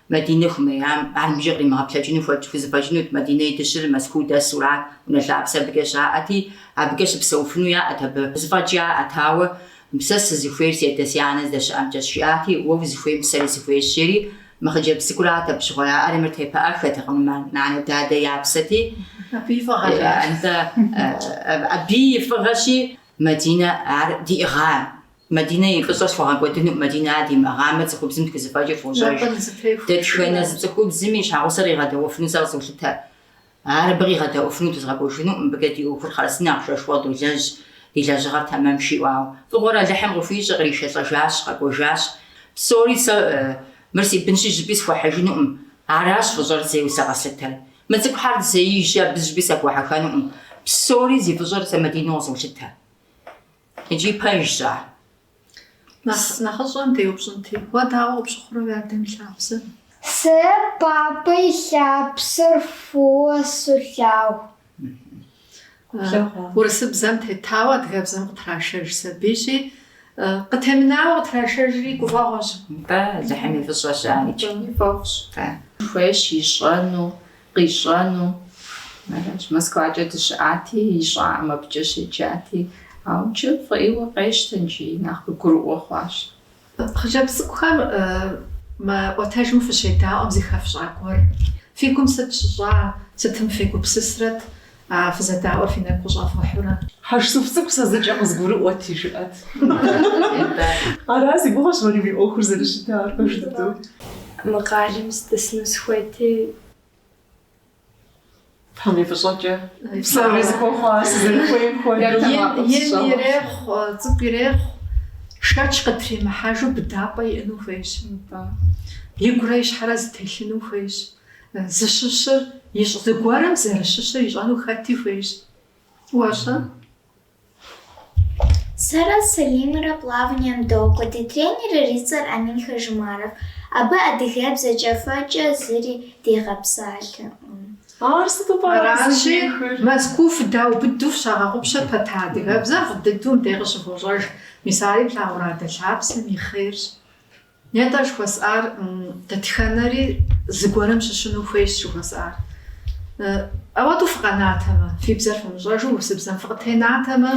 Speaker 4: Мадинэ хумеям, ар мыбыкӏэ къримыгъэплъэкӏыну хуэ хузэфӏэкӏынут, Мадинэ и дыщыр Мэзкуу дэсу арат унэ лъапсэ абыкӏэ щаӏэти, абыкӏэ щыпсэуфыну яӏэт абы. Зыфӏэкӏ яӏэт, ауэ, Сэ сызыхуейр си адэ си анэ здэщыӏэмкӏэщ, жиӏати, уэ узыхуейм сэри сыхуейщ, жери, мы хъыджэбз цӏыкӏурат абы щыгъуэ яӏэр, мыр тепыӏэххэтэкъым, нанэ-дадэ я псэти, Абы и
Speaker 3: фӏыгъэщ.
Speaker 4: Абы и фӏыгъэщи, Мадинэ ар диӏыгъа Мадинэ и фӏыщӏэ схуэгъэкӏуэдынукъым, Мадинэ ар димыӏыгъамэ, цӏыхубзым тхузыфӏэкӏыр фощӏэж. Дэтхэнэ зы цӏыхубзым и щхьэгъусэр къигъэдэӏуэфыну сэ къызолъытэ. Ар абы къигъэдэӏуэфынут, узгъэкӏуэжынукъым, мыбыкӏэ ди ӏуэхур хъарзынэ, ахъшэшхуэ къыдолэжь, ди лэжьыгъэр тэмэм жиӏауэ. Фӏыгъуэр Алыхьым къыхуищӏэ, къришэлӏэжащ, къэкӏуэжащ. Псори сэ мыр си бынщи жыпӏи схуэхьыжынукъым, аращ фӏыщӏэр зейуэ сэ къэслъытэр. Мы цӏыкӏухэр зейщи абы жыпӏи схуэхьыххэнукъым. Псори зи фӏыщӏэр сэ Мадинэу къызолъытэ. Иджы пэжщ
Speaker 3: ар. Нэхъыщӏэм деупщӏынти,
Speaker 4: уэ
Speaker 3: дауэ къыпщыхъурэ уи адэм и лъапсэр?
Speaker 6: Сэ папэ и лъапсэр фӏыуэ солъагъу.
Speaker 3: Урысыбзэм тетауэ адыгэбзэм къытрашэж сабийщи, къытемынауэ къытрашэжри гуфӏэгъуэщ. Бэ, Алыхьым и
Speaker 4: фӏыщӏэщ ар иджы. Фӏэфӏщ.
Speaker 3: Хуейщ
Speaker 5: ищӏэну. къищӏэну аращ. Москвакӏэ дыщыӏати, ищӏаӏэм абыкӏэ щеджати, ауэ иджы фӏы ӏейуэ къещтэ икӏи, нэхъ къыгурыӏуэ хъуащ.
Speaker 3: Хъыджэбз цӏыкӏухэм мы ӏуэтэжым фыщедаӏуэм зыхэфщӏа гуэр фи гум сыт щыщӏа, сытым фегупсысрэт, А фызэдаӏуэр фи нэгу къыщӏэфыхьурэ? Хьэжсуф цӏыкӏу
Speaker 1: сэ зыкӏэ къызгурыӏуэти, жыӏэт. Ара си гугъэщ уэри уи ӏуэхур зэрыщытар, пэж дыдэу. Мы къалэм
Speaker 6: сыдэсыну сыхуейти.
Speaker 1: Тхьэм и фӏыщӏэкӏэ псори зыхуэхъуа, сызэрыхуейм хуэдэу.
Speaker 3: Ин ирехъу, цӏыкӏу ирехъу, шэч къытримыхьэжу быдапӏэ иӏэну хуейщ. Нтӏэ. Игурэ и щхьэрэ зытелъыну хуейщ. Зыщыщыр ищӏ, зыгуэрым зэрыщыщыр ищӏэну хэти хуейщ.
Speaker 6: Уэ-щэ? Сэрэ Сэлимрэ плаванием докӏуэ. Ди тренерыр и цӏэр Амин Хажимаров. Абы адыгэбзэкӏэ фӏэкӏа зыри дигъэпсалъэкъым.
Speaker 1: Ар сыту пӏэрэ Аращи,
Speaker 3: къызыщӏихыр?
Speaker 1: Мэзкуу фыдаубыду
Speaker 3: фщагъэгъупщэ пэта адыгэбзэр фӏы дыдэу мыбдеж къыщывощӏэж. Мис ари плъагъурэ адэ лъапсэм и хъерщ. Нетӏэ жыхуэсӏар дэтхэнэри зыгуэрым щыщыну хуейщ жыхуэсӏар. Ауэдэу фыкъэнатэмэ, фи бзэр фымыщӏэжу урысыбзэм фыкъытенатэмэ,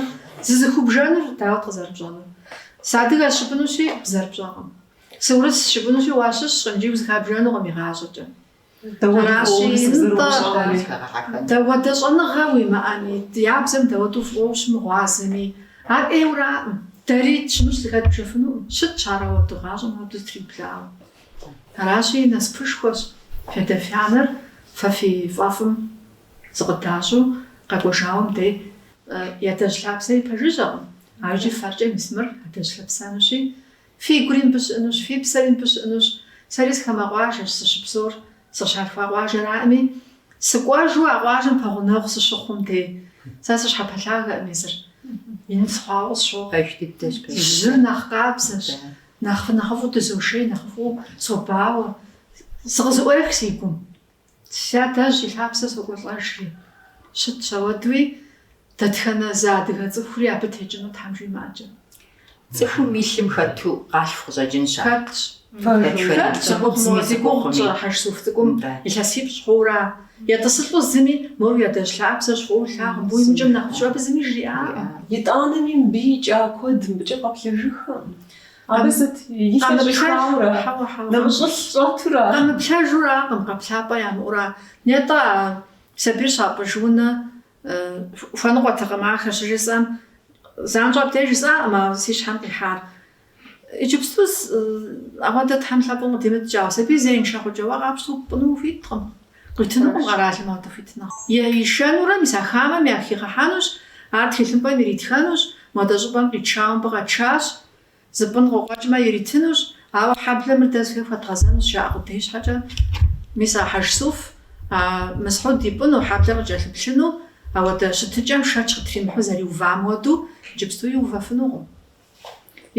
Speaker 3: зызыхубжэнур дауэт къызэрыпщӏэнур? Сыадыгэщ жыпӏэнущи, бзэр пщӏэкъым. Сыурысщ жыпӏэнущи, уащыщкъым, икӏи узыхабжэнукъым игъащӏэкӏэ. Аращи, нтӏэ, дауэдэ щӏэныгъэ уимыӏэми, я бзэм дауэдэу фӏыуэ ущымыгъуазэми, ар ӏейуэраӏым. Дэри тщымыщ зыхэтбжыфынукъым. Щытщ ар ауэду гъащӏэм абы зытриблагъэу. Аращи, насыпышхуэщ фядэ-фянэр фэ фи фӏэфӏым зыкъыдащӏу къэкӏуэжауэм дей. Ядэжь лъапсэри пэжыжьэкъым, ар икӏи фэркӏэ мис мыр адэжь лъапсэнущи. Фи гури мыбы щыӏынущ, фи псэри мыбы щыӏынущ. Сэри зы хамэ къуажэщ сыщыпсэур, сыщалъхуа къуажэраӏыми, сыкӏуэжу а къуажэм пэгъунэгъу сыщыхъум дей. Сэ сыщхьэпэлъагэкъым езыр. Ин схъуауэ сщохъу. Пэж дыдэщ, пэж дыдэщ. Жьыр нэхъ къабзэщ. Да. Нэхъ, нэхъыфӏу дызошей, нэхъыфӏу собауэ. Зыкъызэӏуех си гум. Си адэжь и лъапсэ сокӏуэлӏэжри, щытщ ауэдуи, дэтхэнэ зы адыгэ цӏыхури абы текӏыну Тхьэм жимыӏэкӏэ. Цӏыхум
Speaker 4: и лъым хэту къалъху къыщӏэкӏынщ ар. Хэтщ.
Speaker 3: Хэт щымыхъу мо зи гугъу тщӏэрэ Хьэжсуф цӏыкӏум илъэсипщӏ хъуура? Етӏысылӏэу зыми мор уи адэжь лъапсэщ фӏыуэ лъагъу, мыбы уимыкӏым нэхъыфӏщ, абы зыми жриӏакъым. Итӏанэми мыбы
Speaker 1: икӏа куэд мыбыкӏэ къэплъэжыххэ. Абы сыт? И щхьэ щӏихауэрэ? Нэмыщӏылъ щӏэтурэ?
Speaker 3: Къэмыплъэжуракъым, къэплъапӏэ ямыӏэура? Нетӏэ, а сабийр щапӏыж унэ хуэныкъуэтэкъым ахэр щыжысӏэм. Занщӏэу абдеж жысӏакъым а си щхьэм къихьар. Иджыпсту ауэдэ Тхьэ лъапӏэм къыдимыткӏэ, а сабийр зеиншэ хъукӏэ уэ къапщту пӏыну ухуиткъым. Къуитынукъым къэралым ауэдэ хуитыныгъэ. Ишэнурэ мис а хамэм яхигъэхьэнущ, ар тхылъымпӏэм иритхэнущ, модэ щӏыпӏэм къитшауэ мыбы къэтшащ, зыпӏын къокъуэкӏмэ иритынущ, ауэ хьэблэм мыр дэ зыхуей хуэдгъэзэнущ, жаӏэ къудей щхьэкӏэ. Мис а Хьэжсуф, а Мысхьуд ипӏыну, хьэблэр къыкӏэлъыплъыну, ауэдэ щытыкӏэм шэч къытримыхьу зэриувам хуэдэу, иджыпсту иувэфынукъым.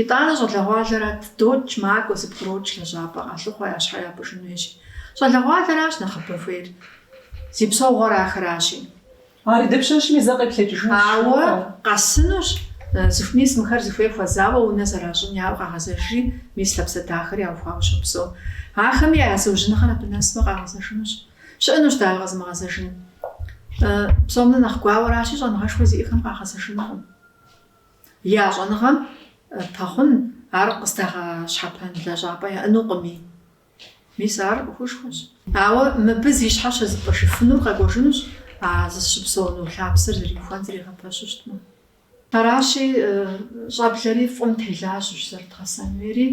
Speaker 3: Итӏанэ щӏалэгъуалэрат докӏ, макӏуэ, зэпкърокӏ лэжьапӏэ къалъыхъуэ я щхьэ япӏыжын хуейщи. Щӏалэгъуалэращ нэхъыбэ хуейр. Зи псэугъуэр ахэращи.
Speaker 1: Ари дапщэщми зэ къеплъэкӏыжынущ. Ауэ
Speaker 3: къэсынущ, зыху мис мыхэр зыхуей хуэзауэ унэ зэращӏын яӏэу къагъэзэжри, мис лъапсэ дахэр яухуауэ щопсэу. Ахэми я зыужьыныгъэр абы нэсмэ къагъэзэжынущ. Щыӏэнущ дауэ къэзымыгъэзэжын. Псом нэ нэхъ гуауэращи, щӏэныгъэшхуэ зиӏэхэм къагъэзэжынукъым. Я щӏэныгъэм пэхъун ар къыздагъэщхьэпэн лэжьапӏэ яӏэнукъыми. Мис ар ӏуэхушхуэщ. Ауэ мыбы зи щхьэ щызыпӏыжыфынур къэкӏуэжынущ а зыщыпсэуну лъапсэр зэриухуэн зэригъэпэщу щытмэ. Аращи, щӏэблэри фӏым телажьэущ зэрыдгъэсэн хуейри.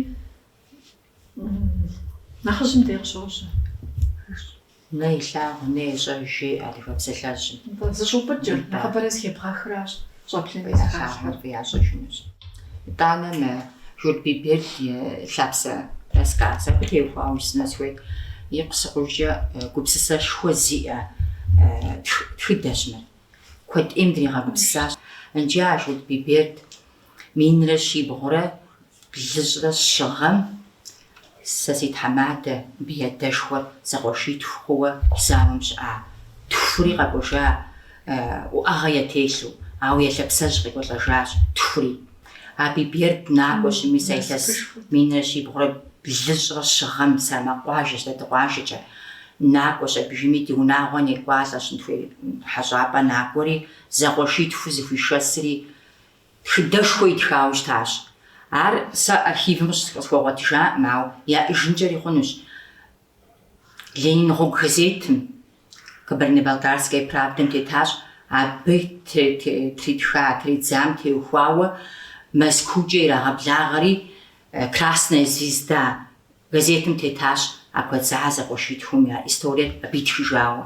Speaker 3: Нэхъыжьым дей
Speaker 4: къыщожьэ. Нэ илъагъу, нэ ещӏэж, жеӏэ адыгэ псалъэжьым. Нтӏэ, зыщӏэупӏыкӏыр,
Speaker 3: нэхъыбэрэ зэхебгъэхращ, щӏэблэми зыхалъхьэр.
Speaker 4: Ялъагъур ящӏэжынущ. Итӏанэ мы Журт Биберд и Лъапсэ рассказым теухуауэ жысӏэну сыхуейт. Икъусыкъужкӏэ гупсысэшхуэ зиӏэ тхыдэщ мыр. Куэд ӏейм дригъэгупсысащ. Иджы а Журт Биберд Минрэ щибгъурэ блыщӏрэ щыгъэм сэ си тхьэмадэ, абы я адэшхуэр зэкъуэшитху хъууэ зауэм щыӏа. Тхури къэкӏуэжа уӏэгъэ ятелъу, ауэ я лъэпсэжь къекӏуэлӏэжащ тхури. А Биберд накӏуэщ мис а илъэс минрэ щибгъурэ блыщӏрэ щыгъэм Сэрмакъ къуажэщ, дэ ди къуажэкӏэ накӏуэщ, абыжыми ди унагъуэ некӏуалӏэщ, нтхуей хьэщӏапӏэ накӏуэри, зэкъуэшитху зэхуишэсри Тхыдэшхуэ итхауэ щытащ. Ар сэ архивым къыщысхуэгъуэтыжакъым, ауэ яӏыжынкӏэри хъунущ. Ленин гъуэгу газетым, Кабардино-Балкарская правдам тетащ, абы тритха, тридзам теухуауэ Мэзкуукӏэ ирагъэблагъэри Красная звезда Газетым тетащ а куэдза зэкъуэшитхум я историер абы итхыжауэ.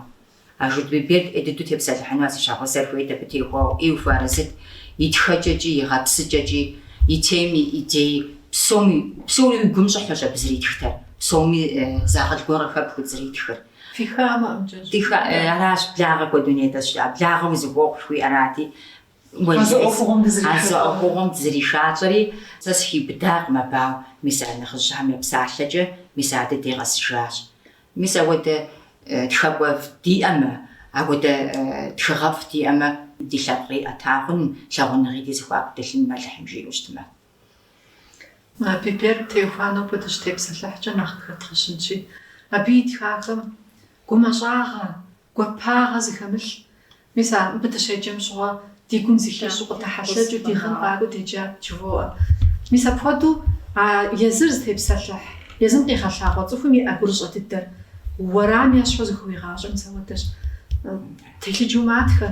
Speaker 4: А Журт Биберд ӏей дыдэу тепсэлъыхьыну а зыщагъуэзэр хуейт абы теухуауэ ӏейуэ хуэарэзыт, и тхэкӏэкӏи, и гъэпсыкӏэкӏи, и теми, идеи, псоми. Псори уи гум щӏыхьэщ абы зэритхтэр, псоми зы акъыл гуэрхэр хэпхыу зэритхыр. Фи хамэ амкӏэ щӏы. Аращ, благъэ куэду нетӏэщ, а благъэм узыхуохъу жыхуиӏэрати, А зы ӏуэхугъуэм дызэришалӏэри, сэ сыхиубыдакъым абы, ауэ мис а нэхъыжьхэм я псалъэкӏэ, мис а ди деж къэсыжащ. Мис апхуэдэ тхакӏуэфӏ диӏэмэ, апхуэдэ тхыгъэфӏ диӏэмэ, ди лъэпкъи ӏэта хъун, лъагъуныгъи ди зэхуаку дэлъын мэлыхьым, жиӏэу
Speaker 3: щытмэ. Биберд теухуауэ нобэ дыщытепсэлъыхькӏэ нэхъ къыхэдгъэщынщи, абы итхахэм гумэщӏагъэ, Гуапагъэ зыхэмылъ, мис абы дыщеджэм щыгъуэ ди гум зыхищӏэу, къыдэхьэлъэкӏыу, ди гъын къакӏуэу деджа жывоӏэ. Мис апхуэдэу а езыр зытепсэлъыхь, езым къигъэлъагъуэ цӏыхум иӏэ гурыщӏэ дыдэр уэрам ещхьу зыхыуигъащӏэу мис ауэдэщ. Телъыджэу матхэ.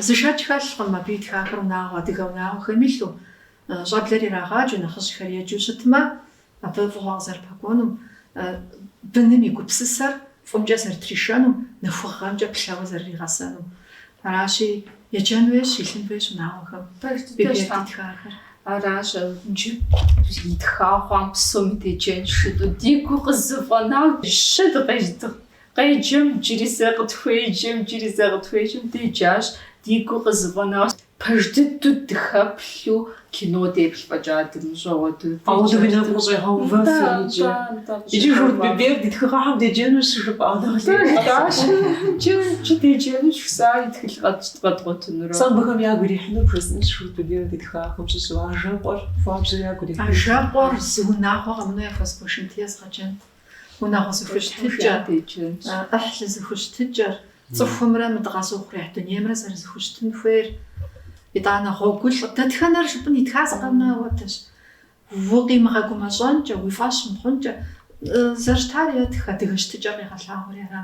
Speaker 3: Зы шэч хэлъкъым абы итхахэр унагъуэ, адыгэ унагъуэхэм илъу, щӏэблэр ирагъаджэу, нэхъыжьхэр еджэу щытмэ, Абы фӏыгъуэ къызэрыпэкӏуэнум, быным и гупсысэр фӏымкӏэ зэрытришэнум, нэхугъэмкӏэ плъэуэ зэрыригъэсэнум. Аращи, еджэн хуейщ, илъын хуейщ унагъуэхэм Биберд итхахэр.
Speaker 5: Аращ иджы итха хъуам псоми деджэн щыту ди гур къызэфӏэнауэ щытт къеджэм джыри зэ къытхуеджэм, джыри зэ къытхуеджэм деджащ, ди гур къызэфӏэнауэ Пэж дыдэу дыхэплъу кино деплъ фӏэкӏа дымыщӏэуэ дыдеджэрти. Ауэдэу уи нэгу
Speaker 1: къыщӏегъэувэфыр иджы. Иджы Журт Биберд и тхыгъэхэм деджэну щыжыпӏа нэхъ лейр? Дащэкӏэ
Speaker 5: иджы деджэну жысӏа и тхылъ къэдгъуэтынурэ? Сэ абыхэм
Speaker 1: ягу ирихьынур бжесӏэнщ Журт Биберд и тхыгъэхэм щыщу ажэкъуэр хуабжьу ягу ирихьынур. Ажэкъуэр зы
Speaker 3: унагъуэ къэмынэу яхуэзгуэшынти езгъэджэнт. унагъуэ зэхущытыкӏэр, ӏыхьлы зэхущытыкӏэр, цӏыхумрэ мы дыкъэзыухъуреихь дунеймрэ зэрызэхущытын хуейр. Итӏанэ Гъуэгулӏ, дэтхэнэр жыпӏын итха зыкъом ауэдэщ. Укъимыгъэгумэщӏэнкӏэ, уи фӏэщ мыхъункӏэ, зэрыщытар етх, адыгэ щытыкӏэр къигъэлъагъури ара.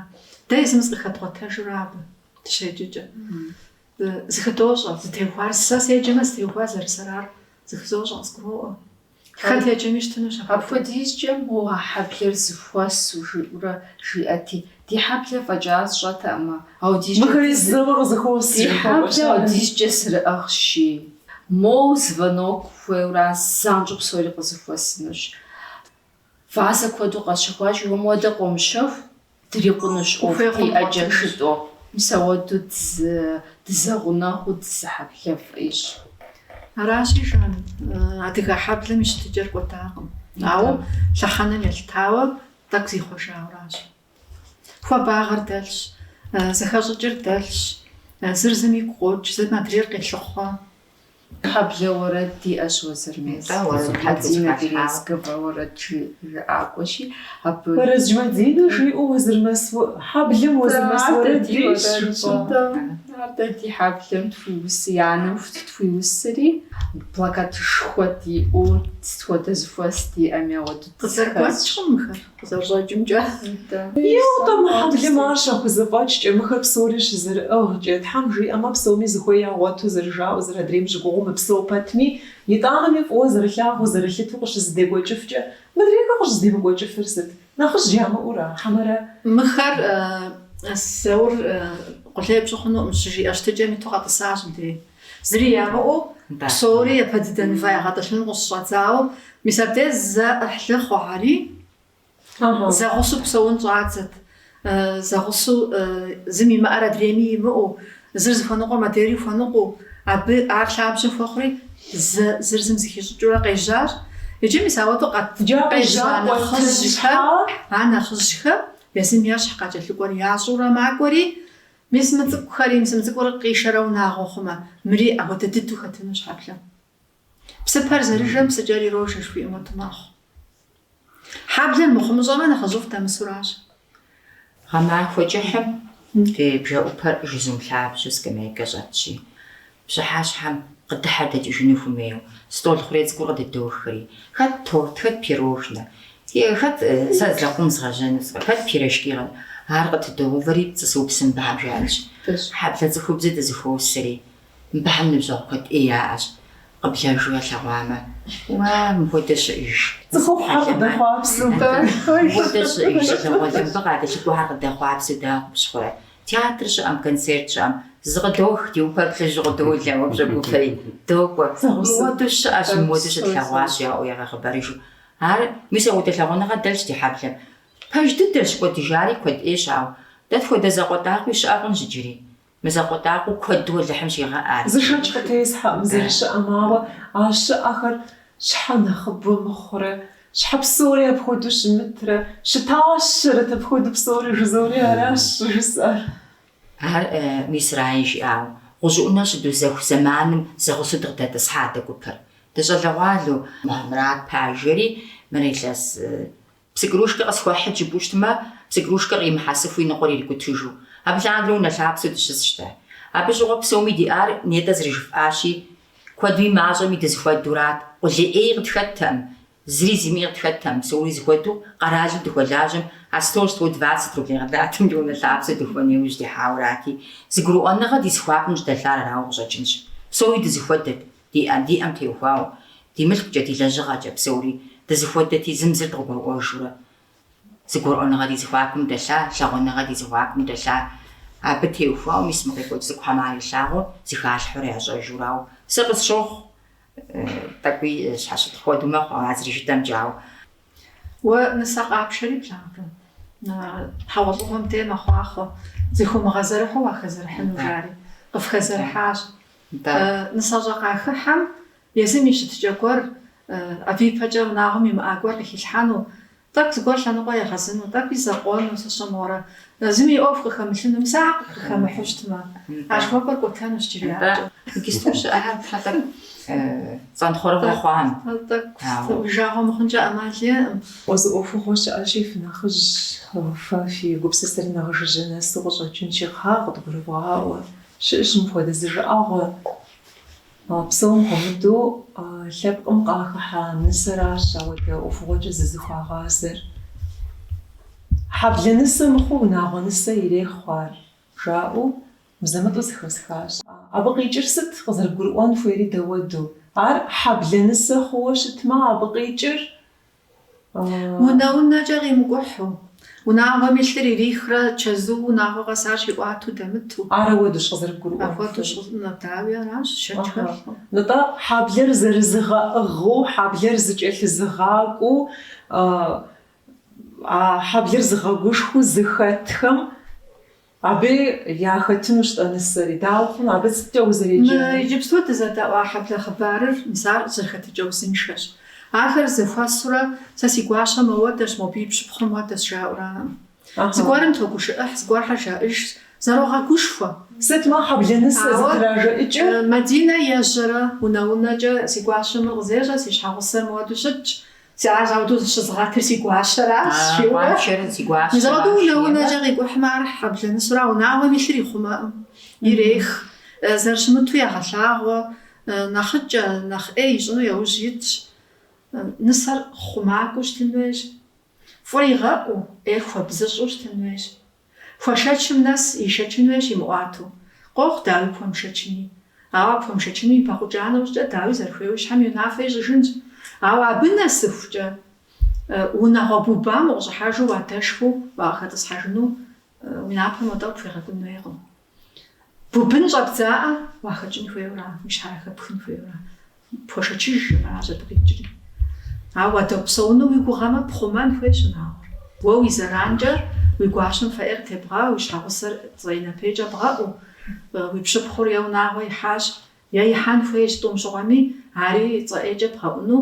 Speaker 3: Дэ езым зыкъыхэдгъуэтэжурэ абы дыщеджэкӏэ. Зыхыдощӏэ, зытеухуар, сэ седжэмэ зытеухуар зэрысэрар зыхызощӏэ, къызгуроӏуэ. Хэт еджэми щытынущ апхуэдэу. Апхуэдизкӏэ
Speaker 5: мо а хьэблэр зыхуэсу, жиӏэурэ жиӏэти, ди хьэблэр фӏэкӏа сщӏэтэкъымэ, ауэ ди щӏыкӏэ. Мыхэри зэуэ
Speaker 1: къызыхуос, жи хуэкӏуэ. Ди хьэблэр
Speaker 5: ауэдизкӏэ зэрыӏыгъщи, моу звонок хуейуэращ, занщӏэу псори къызыхуэсынущ. Вазэ куэду къэсщэхуащ, уэ мыуэдэ къомыщэху, дрикъунущ ӏуэху къиӏэ джэшытӏэу, мис ауэду дызэгъунэгъуу дызыхьэблэфӏщ.
Speaker 3: Аращи, жан, адыгэ хьэблэм и щытыкӏэр кӏуэдакъым, ауэ лъэхъэнэм елъытауэ тӏэкӏу зихъуэжауэращ. Хуабагъэр дэлъщ, зэхэщӏыкӏыр дэлъщ, зыр зым игу къокӏ, зым адрейр къелъыхъуэ. Хьэблэ
Speaker 5: уэрэд диӏэщ Уэзырмэс. Нтӏэ, уэрэд Хьэдзинэ Березкова уэрэд жыӏакӏуэщи, абы. Уэрэз
Speaker 1: Хьэдзинэ жиӏэу Уэзырмэс уэ-. Хьэблэм Уэзырмэс уэрэд диӏэщ, жыпӏэ. Нтӏэ,
Speaker 5: ар дэ ди хьэблэм тхуиусы, и анэм тхуиусри, плакатышхуэ диӏэу, сыт хуэдэ зыхуэс диӏэми, ауэду дызэхуос. Къызэрыгуэкӏкъым мыхэр.
Speaker 3: Зэщӏэкӏымкӏэ.
Speaker 1: Еуэ, мы хьэблэм ар щахузэфӏэкӏкӏэ, мыхэр псори щызэрыӏыгъкӏэ, Тхьэм жиӏэмэ, псоми зыхуей ягъуэту зэрыжаӏэу, зыр адрейм щыгугъыу мыпсэу пэтми, итӏанэми фӏыуэ зэрылъагъуу, зэрылъыту къыщызэдекӏуэкӏыфкӏэ, мыдрейхэр къыщӏызэдемыкӏуэкӏыфыр сыт? Нэхъыжь ямыӏэура? Хьэмэрэ? Мыхэр
Speaker 3: Заур къулей пщӏы хъунукъым щыжиӏэ щытыкӏэм иту къэтӏысащ мыдрейм. Зыри ямыӏэу псори япэ дыдэ мывэ ягъэтӏылъыну къыщыщӏэдзауэ, мис абдеж зэӏыхьлы хъухэри, зэгъусэу псэун щӏадзэт, зэгъусэу зым имыӏэр адрейми имыӏэу, зыр зыхуэныкъуэм адрейри хуэныкъуэу, абы ар лъабжьэ хуэхъури, зэ зыр зым зыхищӏыкӏыурэ къежьащ. Иджы мис ауэдэу къэза нэхъыжьхэр, а нэхъыжьхэм езым ещхь къакӏэлъыкӏуэр ящӏурэ макӏуэри, Мис мы цӏыкӏухэри, мис мы цӏыкӏур къишэрэ унагъуэ хъумэ, мыри апхуэдэ дыдэу хэтыну щхьэплъэ? Псыпэр зэрыжэм псыкӏэр ирожэ жыхуиӏэм хуэдэу мэхъу. Хьэблэр мыхъумыщӏэмэ, нэхъыжьыфӏ
Speaker 4: дэмысуращ. Гъэмахуэ кӏыхьым ди бжэӏупэр жызум лъабжьэу скамейкэ щӏэтщи, Пщыхьэщхьэм къыдыхьэр дэкӏыжыну хуэмейуэ, стӏол хъурей цӏыкӏур къыдыдохри, хэт торт, хэт пирожнэ, хэт сэ лэкъум згъэжьэну сфӏэ, хэт пирожки къэт, ар къытыдоувэри пцӏы сыупсым мыбыхэм жаӏэнщ. Хьэблэ цӏыхубзыр дызэхуосри, мыбыхэм ныбжьэгъу куэд ӏей яӏэщ, къыблэжу ялъэгъуамэ, уа, мыхуэдэ щыӏэж. Цӏыхухъухэр
Speaker 1: къыдэхъуапсэу дэ. Мыхуэдэ
Speaker 4: щыӏэж, щӏалэгъуалэмбэ къадэлъыкӏуэхэр къыдэхъуапсэу дэ къыпщыхъурэ? Театр щыӏэм, концерт щыӏэм, зыкъыдох, ди упэр плъыжьу къыдолэ, уэ пщӏэгуфэи, докӏуэ. Мыуэду щыӏэщ, мыуэду щытлъэгъуащ, жаӏэу ягъэхъыбарыжу. Ар, мис ауэдэ лъагъуныгъэ дэлъщ ди хьэблэм. Пэж дыдэщ, кӏуэдыжари куэд ӏейщ, ауэ дэ тхуэдэ зэкъуэтӏакъуи щыӏэ хъунщ иджыри. Мы зэкъуэтӏакъуэу куэду Алыхьым щигъэӏар. Зы шэч къытесхьэӏым
Speaker 1: зэрыщыӏэм, ауэ а щыӏэхэр щхьэ нэхъыбэу мыхъурэ? Щхьэ псори апхуэдэу щымытрэ? Щытащэрэт апхуэдэу псори
Speaker 4: жызори аращ жысӏэр. Ар Мисраи жиӏауэ, гъущӏыӏунэ щыдузэху зэманым зэгъусэу дыкъыдэтӏысхьат а гупыр. Дыщӏэлэгъуалэу Мухьэмрат пажэри, мыр илъэс псы крушкэ къысхуэхьыт жыпӏэу щытмэ, псы крушкэр къимыхьэсыфу и ныкъуэр ирикӏутыжу. Абы лъандэрэ унэ лъапсэу дыщысщ дэ. Абы щыгъуэ псоми диӏар нетӏэ зэрыжыфӏащи, Куэдуи мащӏэми дызыхуэдурат, къулей ӏей къытхэттэм, зыри зимыӏи къытхэттэм, псори зыхуэдэу къэралым дыхуэлажьэм а сто сто двадцать рублей къыдатым ди унэ лъапсэ духуэн иужь дихьауэрати, зыгурыӏуэныгъэ ди зыхуакум щыдэлъар арауэ къыщӏэкӏынщ. Псори дызыхуэдэт, диӏэм диӏэм теухуауэ, ди мылъкукӏэ, ди лэжьыгъэкӏэ псори дызыхуэдэти, зым зыр дыкъыгурыӏуэжурэ, Зыгурыӏуэныгъэ ди зэхуакум дэлъа, лъагъуныгъэ ди зэхуакум дэлъа. Абы теухуауэ мис мы къекӏуэкӏ цӏыкӏухэм ар илъагъуу, зыхалъхьэурэ ящӏэжурауэ сэ къысщохъу, тӏэкӏуи щхьэщытхъу хуэдэу мэхъу а зэрыжытӏэмкӏэ, ауэ.
Speaker 3: Уэ нысэ къапшэри плъагъурэ? Хьэгъуэлӏыгъуэм де мэхъуахъуэ, зыхыумыгъэзэрыхьу уахэзэрыхьыну, жари. Къыфхэзэрыхьащ. Нтӏэ. Нысэщӏэ къахыхьэм Езым и щытыкӏэ гуэр, абы ипэкӏэ унагъуэм имыӏа гуэр къыхилъхьэну, тӏэкӏу зыгуэр лъэныкъуэ егъэзыну, тӏэкӏуи закъуэну, сщӏэ мыгъуэрэ. Зыми и ӏуэху къыхэмылъыну, мис ахэр къыхэмыхьу щытмэ, аргуэпӏэр кӏуэтэнущ джыри япэкӏэ. Иджысту щыӏэхэр
Speaker 4: фэ тӏэкӏу цӏэнтхъуэрыгъуэ хъуам. Тӏэкӏу сытым,
Speaker 3: уи жагъуэ мыхъункӏэ ӏэмал иӏэкъым. Уэ зы
Speaker 1: ӏуэхугъуэ щыӏэщи, фынэхъыжь, фэ фи гупсысэр нэхъ жыжьэ нэсу къыщӏэкӏынщи, кхъа, къыдгурывгъаӏуэ. Щыӏэщ мыпхуэдэ зы жыӏэгъуэ. А псом хуэмыдэу лъэпкъым къахыхьа нысэращ ауэдэ ӏуэхугъуэкӏэ зызыхуагъазэр. Хьэблэ нысэ мыхъуу унагъуэ нысэ ирехъу ар, жаӏэу мызэ-мытӏэу зэхэсхащ. Абы къикӏыр сыт, къызэрыбгурыӏуэн хуейри дауэду, ар хьэблэ нысэ хъууэ щытмэ, абы къикӏыр
Speaker 3: Унэ-унэкӏэ къимыкӏухьу, унагъуэм илъыр ирихрэ чэзуу унагъуэ къэс ар щиӏуатэу дэмыту. Ар ауэдущ
Speaker 1: къызэрыбгурыӏуэн хуейр? Апхуэдэу щӏыфӏ, нэ,
Speaker 3: дауи, аращ, шэч хэмылъу.
Speaker 1: Нтӏэ, хьэблэр зэрызыгъэӏыгъыу, хьэблэр зыкӏэлъызыгъакӏуэу, а хьэблэр зыгъэгушхуэу зыхэтхэм. Абы яхэтынущ тӏэ нысэри. Дауэ хъуну, абы сыткӏэ узэреджэну? Мы иджыпсту
Speaker 3: дызэдэӏуа хьэблэ хъыбарыр мис ар къызэрыхэтыкӏэ узыншэщ. Ахэр зэхуэсурэ, сэ си гуащэ моуэдэщ, мобы и пщыпхъур моуэдэщ жаӏураӏым. Зыгуэрым тогушыӏыхь, зыгуэрхэр жаӏыжщ, Зэрогъэгушхуэ!
Speaker 1: Сытмэ, хьэблэ нысэ зытражэӏыкӏыр? Мадинэ
Speaker 3: ежьэрэ, унэ-унэкӏэ, Си гуащэм мыр къызещӏэ, си щхьэгъусэр моуэду щытщ. Си ар ауэдэу щызыгъэтыр си гуащэращ, жиӏэурэ. Ауэдэу унэ-унэкӏэ къикӏухьмэ, ар хьэблэ нысэра, унагъуэм илъыр ихъумэкъым, ирех. Зэрыщымыту ягъэлъагъуэ, нэхъыкӏэ, нэхъ ӏей ищӏыну яужь итщ. Нысэр хъумакӏуэу щытын хуейщ, фӏыр игъэӏуу, ӏейр хуэбзыщӏу щытын хуейщ. Хуэшэчым нэс ишэчын хуейщ имыӏуату, къохъу Дауи пхуэмышэчыни. Ауэ ар пхуэмышэчыну ипэхъукӏа нэужькӏэ Дауи зэрыхуейуэ и щхьэм и унафэ ищӏыжынщ. Ауэ абы нэсыхукӏэ, унагъуэ бубам укъыщӏыхьэжу уадэшхыу уакъыхэтӏысхьэжыну уи напэм уэ тӏэ къыпхуигъэкӏун хуейкъым. Бубын щӏэбдзаӏэ уахэкӏын хуейуэра, уи щхьэр яхэпхын хуейуэра? Пхуэшэчыжӏым жыпӏэращ абы къикӏри. Ауэ уадэпсэуну уи гугъэмэ, пхъумэн хуейщ унагъуэр. Уэ уи зэранкӏэ уи гуащэм фэ ӏейр тебгъауэу, уи щхьэгъусэр цӏэ ӏей напэ ӏейкӏэ бгъэӏуу. Уи пщыпхъур е унагъуэ ихьащ, е ихьэн хуейщ, тӏум щыгъуэми, ари цӏэ ӏейкӏэ бгъэӏуну.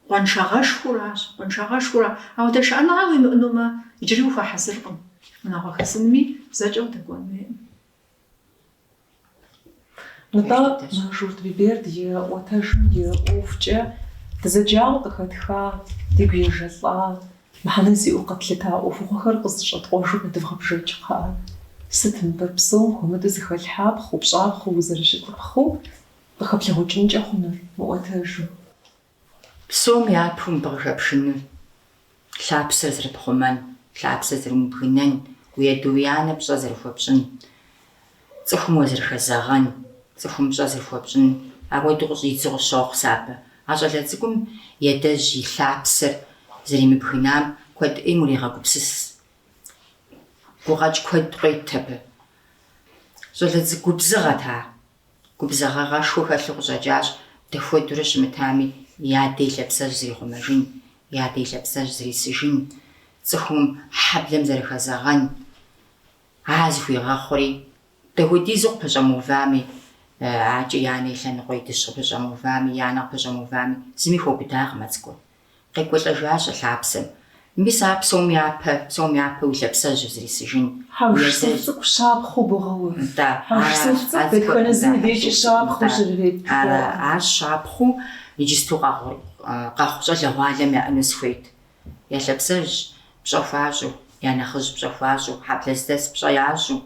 Speaker 3: Къуаншагъэшхуэращ, къуаншагъэшхуэра. Ауэдэ шыӏэныгъэ уимыӏэнумэ, иджыри ухуэхьэзыркъым. Унагъуэ хэсынми зэкӏэ удэкӏуэн хуейкъым.
Speaker 1: Нтӏэ, мы Журт Биберд и ӏуэтэжым и ӏуэхукӏэ дызэджауэ къыхэтха, дигу ежэлӏа, мыхьэнэ зиӏэу къэтлъыта ӏуэхугъуэхэр къызэщӏэткъуэжу къыдывгъэбжэкӏ, кхъыӏэ. Сыт мыбы псом хуэмыдэу зыхэлъхьапхъэу, пщӏапхъэу узэрыщытыпхъэу Къыхэплъэгъукӏынкӏэ хъунур мы
Speaker 4: ӏуэтэжым. Псом япэу мыбы къыхэпшыныр. Лъапсэр зэрыпхъумэн, лъапсэр зэрумыбгынэн, уи адэ уи анэ пщӏэ зэрыхуэпщӏын, цӏыхум уазэрыхэзэгъэн, цӏыхум пщӏэ зэрыхуэпщӏын, апхуэдэу къыщӏидзу къыщохъу сэ абы. А щӏалэ цӏыкӏум и адэжь и лъапсэр зэримыбгынам куэд ӏейм урегъэгупсыс. Гукъэкӏ куэд къует абы. Щӏалэ цӏыкӏу губзыгъэт ар. Губзыгъагъэшхуэ хэлъу къыщӏэкӏащ дахуэдурэ щымытами и адэ и лъапсэжь зэрихъумэжын, и адэ и лъапсэжь зэрисыжын, цӏыхум хьэблэм зэрыхэзэгъэн. А зыхуигъэхъури, дахуэдизу къыпэщӏэмыувами, акӏэ и анэ и лъэныкъуэ и дыщ къыпэщӏэмыувами, и анэ къыпэщӏэмыувами, зыми хуэубыдакъым а цӏыкӏур. Къекӏуэлӏэжащ а лъапсэм. Мис ар псом япэ, псом япэ уи лъапсэжьыр зрисыжын. Хьэжсуф цӏыкӏу
Speaker 1: щапхъэу богъэув. Нтӏэ, Хьэжсуф ара, цӏыкӏу дэтхэнэ ар зыми дежкӏэ
Speaker 4: цӏыху, щапхъэу нтӏэ, щырырет ара, пхуэӏым. ар щапхъэу иджысту къэгъу, къэхъу щӏалэгъуалэм яӏэну сыхуейт. Я лъапсэжь пщӏэ хуащӏу, я нэхъыжь пщӏэ хуащӏу, хьэблэ здэс пщӏэ ящӏу.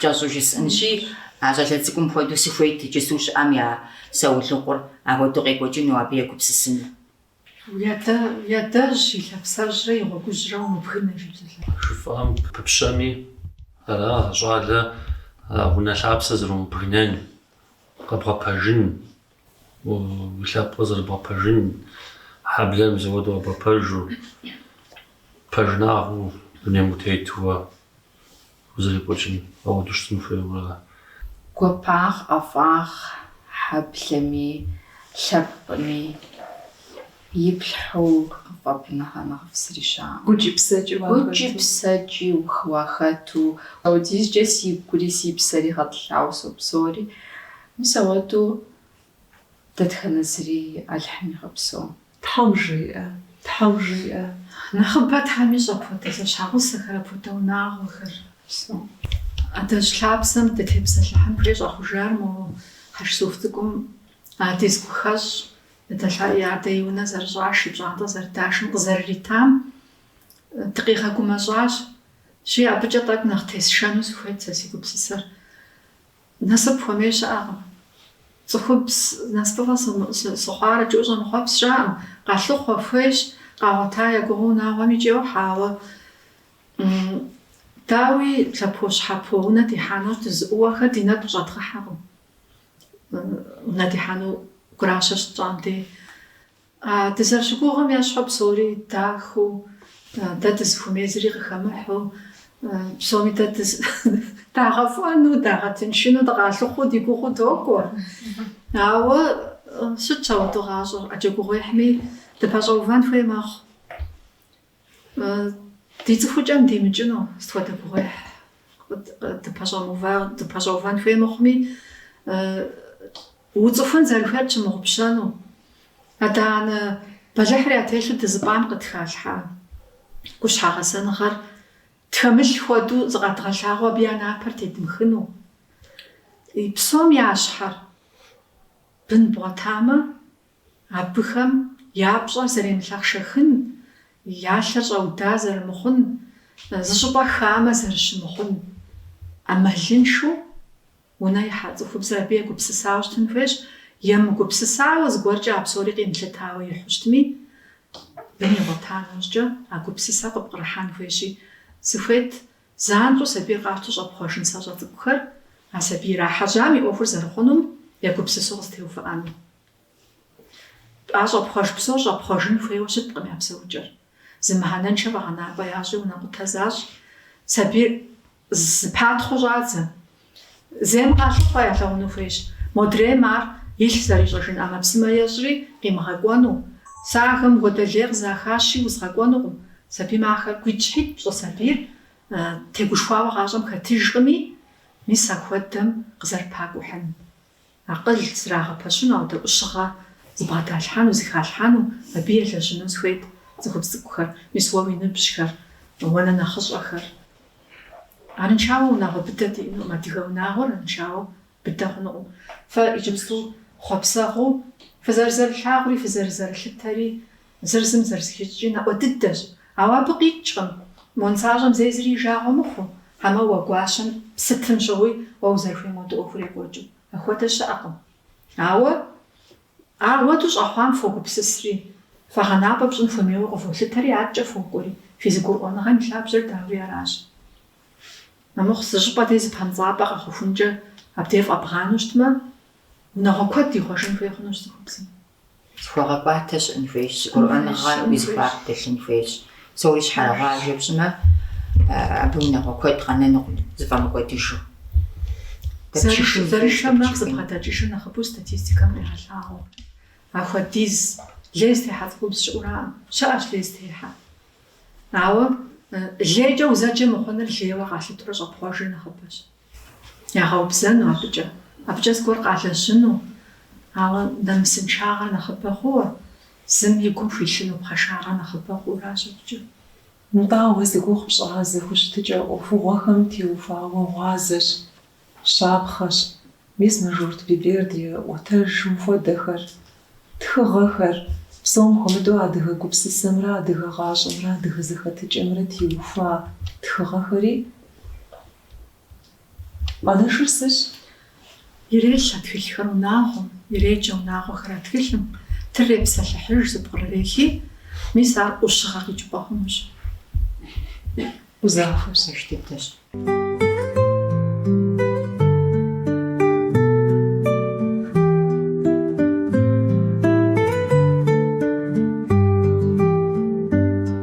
Speaker 4: Кӏэщӏу жысӏэнщи, а щӏалэ цӏыкӏум хуэдэу сыхуейт иджысу щыӏэм я саулыкъур апхуэдэу къекӏуэкӏыну, абы егупсысыну. Уи
Speaker 3: адэжь и лъапсэжьрэ и гъуэгужьрэ умыбгынэ, жи псалъэжьым.
Speaker 2: Жыфӏам пыпщэми, ара а щӏалэ а унэ лъапсэр зэрумыбгынэн, къэбгъэпэжын, Уи лъэпкъыр зэрыбгъэпэжын хьэблэр мис ауэду къэбгъэпэжу, пэжынагъыу дунейм утетууэ узэрикӏуэкӏым ауэду щытын хуейуэ. Гуапагъ,
Speaker 5: ӏэфӏагъ хьэблэми, лъэпкъми иплъхьу къыфӏ, абы нэхърэ нэхъыфӏ зыри щыӏэкъым. Гукӏи псэкӏи уахэту. Гукӏи псэкӏи уахэту. Сэ ауэдизкӏэ си гури си псэри гъэтӏылъауэ сопсэури. Мис ауэдэу дэтхэнэ зыри Алыхьым игъэпсэу.
Speaker 1: Тхьэм жиӏэ, Тхьэм жиӏэ.
Speaker 3: Нэхъыбэ Тхьэм ищӏ апхуэдэ зэщхьэгъусэхэр, апхуэдэ унагъуэхэр. Упсэу. Адэжь лъапсэм дытепсэлъыхьын хуей щӏэхъужар моуэ, Хьэжсуф цӏыкӏум ади зы гухэщӏ, Эдэлъа и адэ и унэ зэрыщӏаш, и пщӏантӏэ зэрыдашым къызэрыритам дыкъигъэгумэщӏащи, абыкӏэ тӏэкӏу нэхъ тесшэну сыхуейт сэ си гупсысэр. Насып хуэмей щыӏэкъым. Цӏыхубз насыпыфӏэ сыхъуарэт жиӏэу щӏэмыхъуэпс щыӏэкъым, къалъыхъуэ, хуейщ, къагъуэта я гугъэу унагъуэм икӏи йохьэ, ауэ, дауи, лъэпощхьэпо унэ дихьэну дызыӏууэхэр ди нэгу къыщӏэдгъыхьэкъым, унэ дихьэну гуращэ щытщӏам дей. А дызэрыщыгугъым ещхьу псори дахэу, дэ дызыхуэмей зыри къыхэмыхьу, псоми дэ дагъэфӏэну, дагъэтыншыну дыкъалъыхъуу ди гугъуу докӏуэ. Ауэ щытщ ауэдэу гъащӏэр. ӏэджэ гугъуехьми дыпэщӏэувэн хуей мэхъу. Ди цӏыхукӏэм димыкӏыну сыт хуэдэ гугъуехь дыпэщӏэувэн хуей мыхъуми, уцӏыхун зэрыхуейр пщымыгъупщэну, адэ-анэ бэлыхьри ятелъу дызыпӏам къытхалъхьа къущхьэ гъэсэныгъэр тхэмылъ хуэдэу зыкъэдгъэлъагъуэу абы я напэр тедмыхыну. Псом ящхьэр бын бгъуэтамэ, Абыхэм я пщӏэр зэремылъэхъшэхын, я лъэр щӏэуда зэрымыхъун, зыщӏыпӏэ хамэ зэрыщымыхъун ӏэмалыншэу унэ ихьа цӏыхубзыр абы егупсысауэ щытын хуейщ. Емыгупсысауэ, зыгуэркӏэ а псори къимылъытауэ ихьэу щытми, бын игъуэта нэужькӏэ а гупсысэр къыпкърыхьэн хуейщи, сыхуейт занщӏэу сабийр къащтэу щӏэпхъуэж нысащӏэ цӏыкӏухэр а сабий ирахьэжьам и ӏуэхур зэрыхъунум егупсысу къызытеувыӏэну. А щӏэпхъуэж псор щӏэпхъуэжын хуейуэ щыткъым я псэукӏэр. Зы мыхьэнэншэ фӏэгъэнапӏэ ящӏи унэкъутэ защӏ, сабийр зэпатхъыу щӏадзэ. Зейм къалъыхъуэ ялъэгъуну хуейщ. Модрейм ар илъ зэрищӏэжын ӏэмэпсымэ ещӏри къимыгъэкӏуэну. Сэ ахэм хуэдэ лей къызахащи, узгъэкӏуэнукъым. Сабий махэр гуитӏщхьитӏ пщӏы, сабийр тегушхуауэ гъащӏэм хэтыжкъыми, мис ахуэдэм къызэрыпакӏухьын. Акъыл зрагъэпэщыну, ахуэдэ ӏущыгъэ зыбгъэдалъхьэну, зыхалъхьэну абы елэжьыну сыхуейт цӏыхубз цӏыкӏухэр, мис уэ уи ныбжьхэр, уэ нэхъ нэхъыщӏэхэр. Арыншауэ унагъуэ быдэ диӏэнукъым, адыгэ унагъуэр арыншауэ быдэ хъунукъым. Фэ иджыпсту хъуэпсэгъуу фызэрызэрылъагъури фызэрызэрылъытэри Зыр зым зэрызыхищӏыкӏри нэӏуэ дыдэщ, ауэ абы къикӏкъым, мо нысащӏэм зэи зыри и жагъуэ мыхъуу, хьэмэ уэ гуащэм сытым щыгъуи уэ узэрыхуейм хуэдэу ӏуэхур екӏуэкӏыу. Апхуэдэ щыӏэкъым. Ауэ ахуэдэу щӏэхъуам фогупсысри, фӏэгъэнапӏэ пщӏын хуэмейуэ къыволъытэри, адэкӏэ фокӏуэри. Фи зэгурыӏуэныгъэм и лъабжьэр дауи аращ. Армыхъу, зы щӏыпӏэ дей зыпэмцӏапӏэ къэхъухункӏэ абдей фӏэбгъанэу щытмэ, унагъуэ куэд ихъуэжын хуей хъунущ цӏыхубзым.
Speaker 4: Зэхуэгъэкӏуатэ щыӏэн хуейщ, зэгурыӏуэныгъэ уи зэхуаку дэлъын хуейщ. Псори щхьэрыгъажэ пщӏымэ, абы унагъуэ куэд къэнэнукъым, зыфӏэмыкӏуэдыжу. Зэрышэм нэхъ
Speaker 3: зэбгъэдэкӏыжыр нэхъыбэу статистикэм къегъэлъагъуэ. Ахуэдиз лей зытехьэ цӏыхубз щыӏураӏым. Щыӏэщ лей зытехьэ. Ауэ лейкӏэ узэджэ мыхъуныр лейуэ къалъытурэ щӏэпхъуэжыр нэхъыбэщ. Ягъэубзэну абыкӏэ. Абыкӏэ зыгуэр къалэжьыну, ауэ нэмысыншагъэр нэхъыбэ хъууэ, зым и гум хуилъыну пхъэшагъэр нэхъыбэ хъууращ абыкӏэ. Нтӏэ, ауэ
Speaker 1: зи гугъу пщӏа зэхущытыкӏэ ӏуэхугъуэхэм теухуауэ гъуазэщ, щапхъэщ, мис мы Журт Биберд и ӏуэтэжым хуэдэхэр, тхыгъэхэр, псом хуэмыдэу адыгэ гупсысэмрэ адыгэ гъащӏэмрэ адыгэ зэхэтыкӏэмрэ теухуа тхыгъэхэри, Къуанэшыр сыщ.
Speaker 3: Ирелъ а тхылъхэр унагъуэм, иреджэ унагъуэхэр а тхылъым, тырырепсэлъыхьыж зыпкърырехи, мис ар ӏущыгъэ къикӏыпӏэ хъунущ.
Speaker 4: Узахуэр
Speaker 3: сыщ дыдэщ.